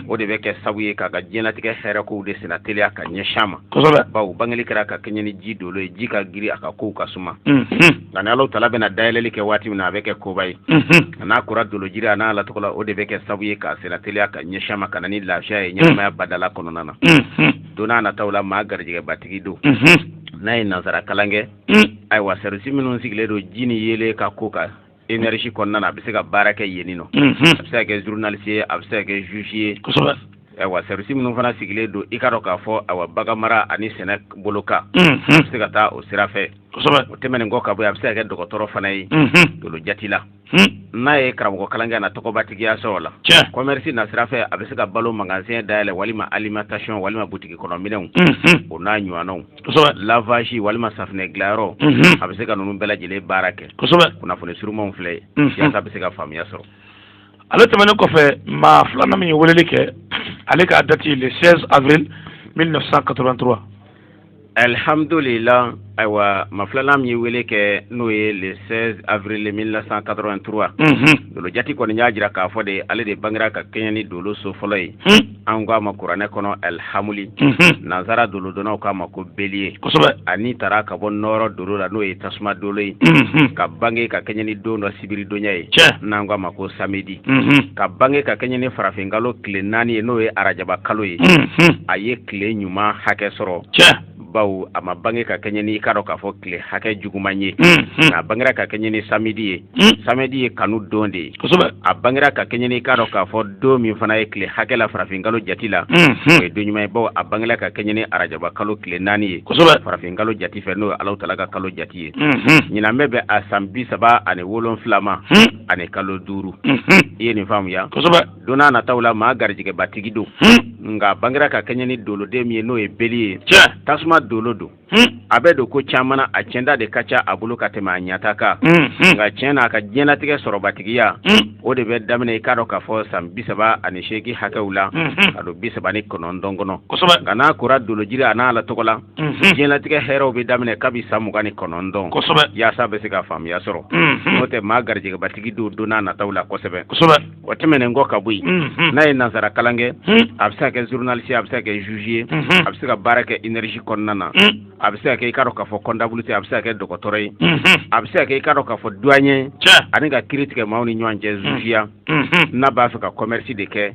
o de bɛ kɛ sabu ye k'a ka diɲɛlatigɛ hɛrɛkow de senna teliya ka ɲɛsin a ma kosɛbɛ bawo bangeli kɛra ka kɛɲɛ ni ji dolo ye ji ka giri a ka kow ka suma nka ni alahu taala bɛna dayɛlɛli kɛ waati min na a bɛ kɛ koba ye a n'a kora dolo jiri an'a ala tɔgɔ la o de bɛ kɛ sabu ye k'a senna teliya ka ɲɛsin a ma ka na ni lafiya ye ɲɛnamaya badala kɔnɔna na don n'a nataw la maa garijɛgɛbatigi don n'a ye nansara kalan kɛ ayiwa service minnu sigilen don ji ni yeelen ka ko kan énergie kɔnɔna na a bɛ se ka baara kɛ yenni nɔ a bɛ se ka kɛ journaliste ye a bɛ se ka kɛ juge ye ayiwa service minnu fana sigilen don i k'a dɔn k'a fɔ ayiwa bagan mara ani sɛnɛ bolo kan a bɛ se ka taa o sira fɛ o tɛmɛnen kɔ ka bɔ yen a bɛ se ka kɛ dɔgɔtɔrɔ fana ye dolo jati la n'a ye karamɔgɔkalan kɛ a na tɔgɔbatigiya sɔrɔ la commerce nasira fɛ a bɛ se ka balo magasin dayɛlɛn walima alimentation walima butigi kɔnɔminɛnw o n'a ɲɔgɔnnaw lavage walima safinɛ dilayɔrɔ a bɛ se ka ninnu bɛɛ lajɛlen baara kɛ kunnafoni surumanw filɛ yaasa bɛ se ka faamuya sɔrɔ ale tɛmɛnen kɔfɛ maa filanan min ye weleli kɛ ale ka date le 16 avril 1983 alihamdulilah ayiwa maa filanan min ye wele kɛ n'o ye le 16 avril 1983 dolo jati kɔni y'a jira k'a fɔ de ale de bangera ka kɛɲɛ ni dolo so fɔlɔ ye an k'a ma kuranɛ kɔnɔ alihamuli nansara dolodɔnnaw k'a ma ko bélier a ni tara ka bɔ nɔɔrɔ dolo la n'o ye tasuma dolo ye ka bange ka kɛɲɛ ni don dɔ sibiridonya ye n'an k'a ma ko samedi ka bange ka kɛɲɛ ni farafinkalo tile naani ye n'o ye arajaba kalo ye a ye tile ɲuman hakɛ sɔrɔ bawo a ma bange ka kɛɲɛ ni i k'a dɔn k'a fɔ tile hakɛ juguman ye a bangera ka kɛɲɛ ni samedi ye samedi ye kanu don de ye a bangera ka kɛɲɛ ni i k'a dɔn k'a fɔ don min fana ye tile hakɛ la farafinkalo jate la o ye don ɲuman ye bawo a bangera ka kɛɲɛ ni arajaba kalo tile naani ye farafinkalo jate fɛ n'o ye Alahu taala ka kalo jate ye ɲinan bɛ bɛn a san bi saba ani wolonfila ma ani kalo duuru i ye nin faamuya don n'a nataw la maa garijɛgɛbatigi don nka bangera ka kɛɲɛ ni doloden min ye n'o ye bélier tasuma dolo don a bɛ don ko caman na a cɛnda de ka ca a bolo ka tɛmɛ a ɲata kan nka tiɲɛ na a ka diɲɛlatigɛ sɔrɔbatigiya o de bɛ daminɛ i k'a dɔn k'a fɔ san bi saba ani seegin hakɛw la ka don bi saba ni kɔnɔntɔn kɔnɔ nka n'a kora dolojiri ani Ala tɔgɔ la Mhm. diɲɛlatigɛ hɛrɛw bɛ daminɛ kabi san mugan ni kɔnɔntɔn kosɛbɛ yaasa bɛ se ka faamuya sɔrɔ mhm. n'o tɛ maa garijɛgɛbatigi don don n'a nataw la kosɛbɛ kosɛbɛ o tɛmɛnen kɔ ka bɔ yen mhm. n'a ye nansara kalan kɛ a bɛ se ka kɛ journaliste a bɛ se ka kɛ juge ye a bɛ se ka baara kɛ énergie kɔnɔna na a bɛ se ka kɛ i k'a dɔn k'a fɔ comptabilité a bɛ se ka kɛ dɔgɔtɔrɔ ye a bɛ se ka kɛ i k'a dɔn k'a fɔ douanier ani ka kiri tigɛ maaw ni ɲɔgɔn cɛ jugeya n'a b'a fɛ ka commerce de kɛ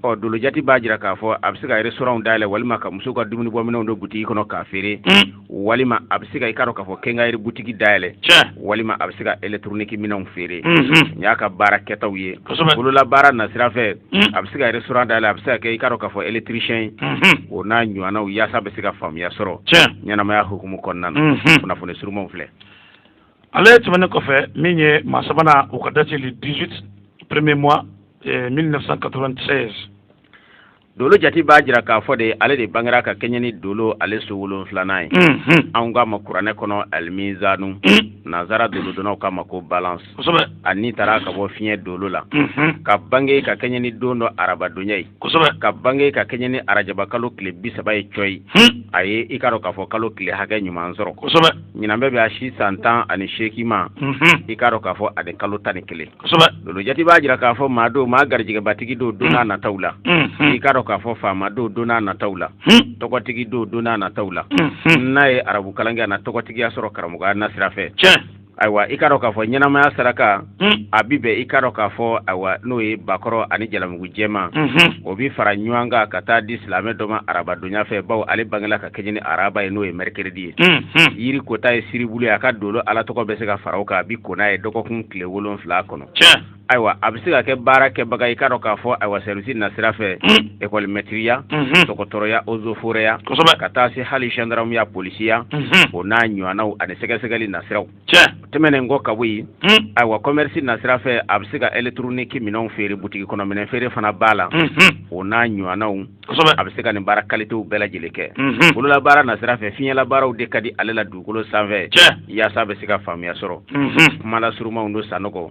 ɔ dolojati b'a jira k'a fɔ a bɛ se ka restaurant dayɛlɛ walima ka musow ka dumuni bɔminɛnw don butigi kɔnɔ k'a feere walima a bɛ se ka i k'a dɔn k'a fɔ quincaillerie butigi dayɛlɛ walima a bɛ se ka électronique minɛnw feere nin y'a ka baara kɛtaw ye bolola baara nasira fɛ a bɛ se ka restaurant dayɛlɛ a bɛ se ka kɛ i k'a dɔn k'a fɔ électricien ye o n'a ɲɔgɔnnaw yaasa bɛ se ka faamuya sɔrɔ ɲɛnamaya hukumu kɔnɔna na kunnafoni surumanw filɛ ale tɛmɛnen kɔfɛ min ye maa sabanan o ka date le 18 premier mois 1996 eh, dolo jati b'a jira k'a fɔ de ale de bangera ka kɛɲɛ ni dolo ale so wolonfilanan ye mhm. anw k'a ma kuranɛ kɔnɔ alimizanu mhm. nanzara dolodonnaw k'a ma ko balance ani taara ka bɔ fiɲɛ dolo la mhm. ka bange ka kɛɲɛ ni don dɔ arabadonya ye ka bange ka kɛɲɛ ni arajabakalo tile bi saba ye cɔyi a ye i k'a dɔn k'a fɔ kalo tile hakɛ ɲuman sɔrɔ ɲinan bɛ bɛn a si san tan ani seegin ma i k'a dɔn k'a fɔ ani kalo tan ni kelen dolo jati b'a jira k'a fɔ maa don maa garijɛgɛbatigi don donna nataw la i k'a dɔn k'a fɔ faama don donna nataw la tɔgɔtigi don donna nataw la n'a ye arabukalan kɛ a na tɔgɔtigiya sɔrɔ karamɔgɔya nasira fɛ ayiwa i k'a dɔn k'a fɔ ɲɛnamaya saraka Hmm. a bɛ bɛn i k'a dɔn k'a fɔ ayiwa n'o ye bakɔrɔ ani jalamugu jɛma hmm. o bɛ fara ɲɔgɔn kan ka taa di silamɛ dɔ ma arabadonya fɛ baw ale bangela ka kɛɲɛ ni araba ye n'o ye mercredi ye hmm, yiri kota ye siribulu ye a ka dolo ala tɔgɔ bɛ se ka fara o kan a bɛ ko n'a ye dɔgɔkun tile wolonfila kɔnɔ ayiwa a bɛ se ka kɛ baara kɛbaga i k'a dɔn k'a fɔ ayiwa service nasira fɛ ekɔlimɛtiriya dɔgɔtɔrɔya ozoforɛya ka taa se hali zandaramuya polisiya o n'a ɲɔgɔnnaw ani sɛgɛsɛgɛli nasiraw tiɲɛ tɛmɛnen kɔ ka bɔ yen hmm. ayiwa commerce nasira fɛ a bɛ se ka électronique minɛnw feere butigi kɔnɔ minɛn feere fana b'a la hmm, hmm. o n'a ɲɔgɔnnaw a bɛ se ka nin baara kalitew bɛɛ lajɛlen kɛ bololabaara nasira fɛ fiɲɛlabaaraw de ka di ale la dugukolo sanfɛ yaasa a bɛ se ka faamuya sɔrɔ kuma lasurumanw don sanɔgɔ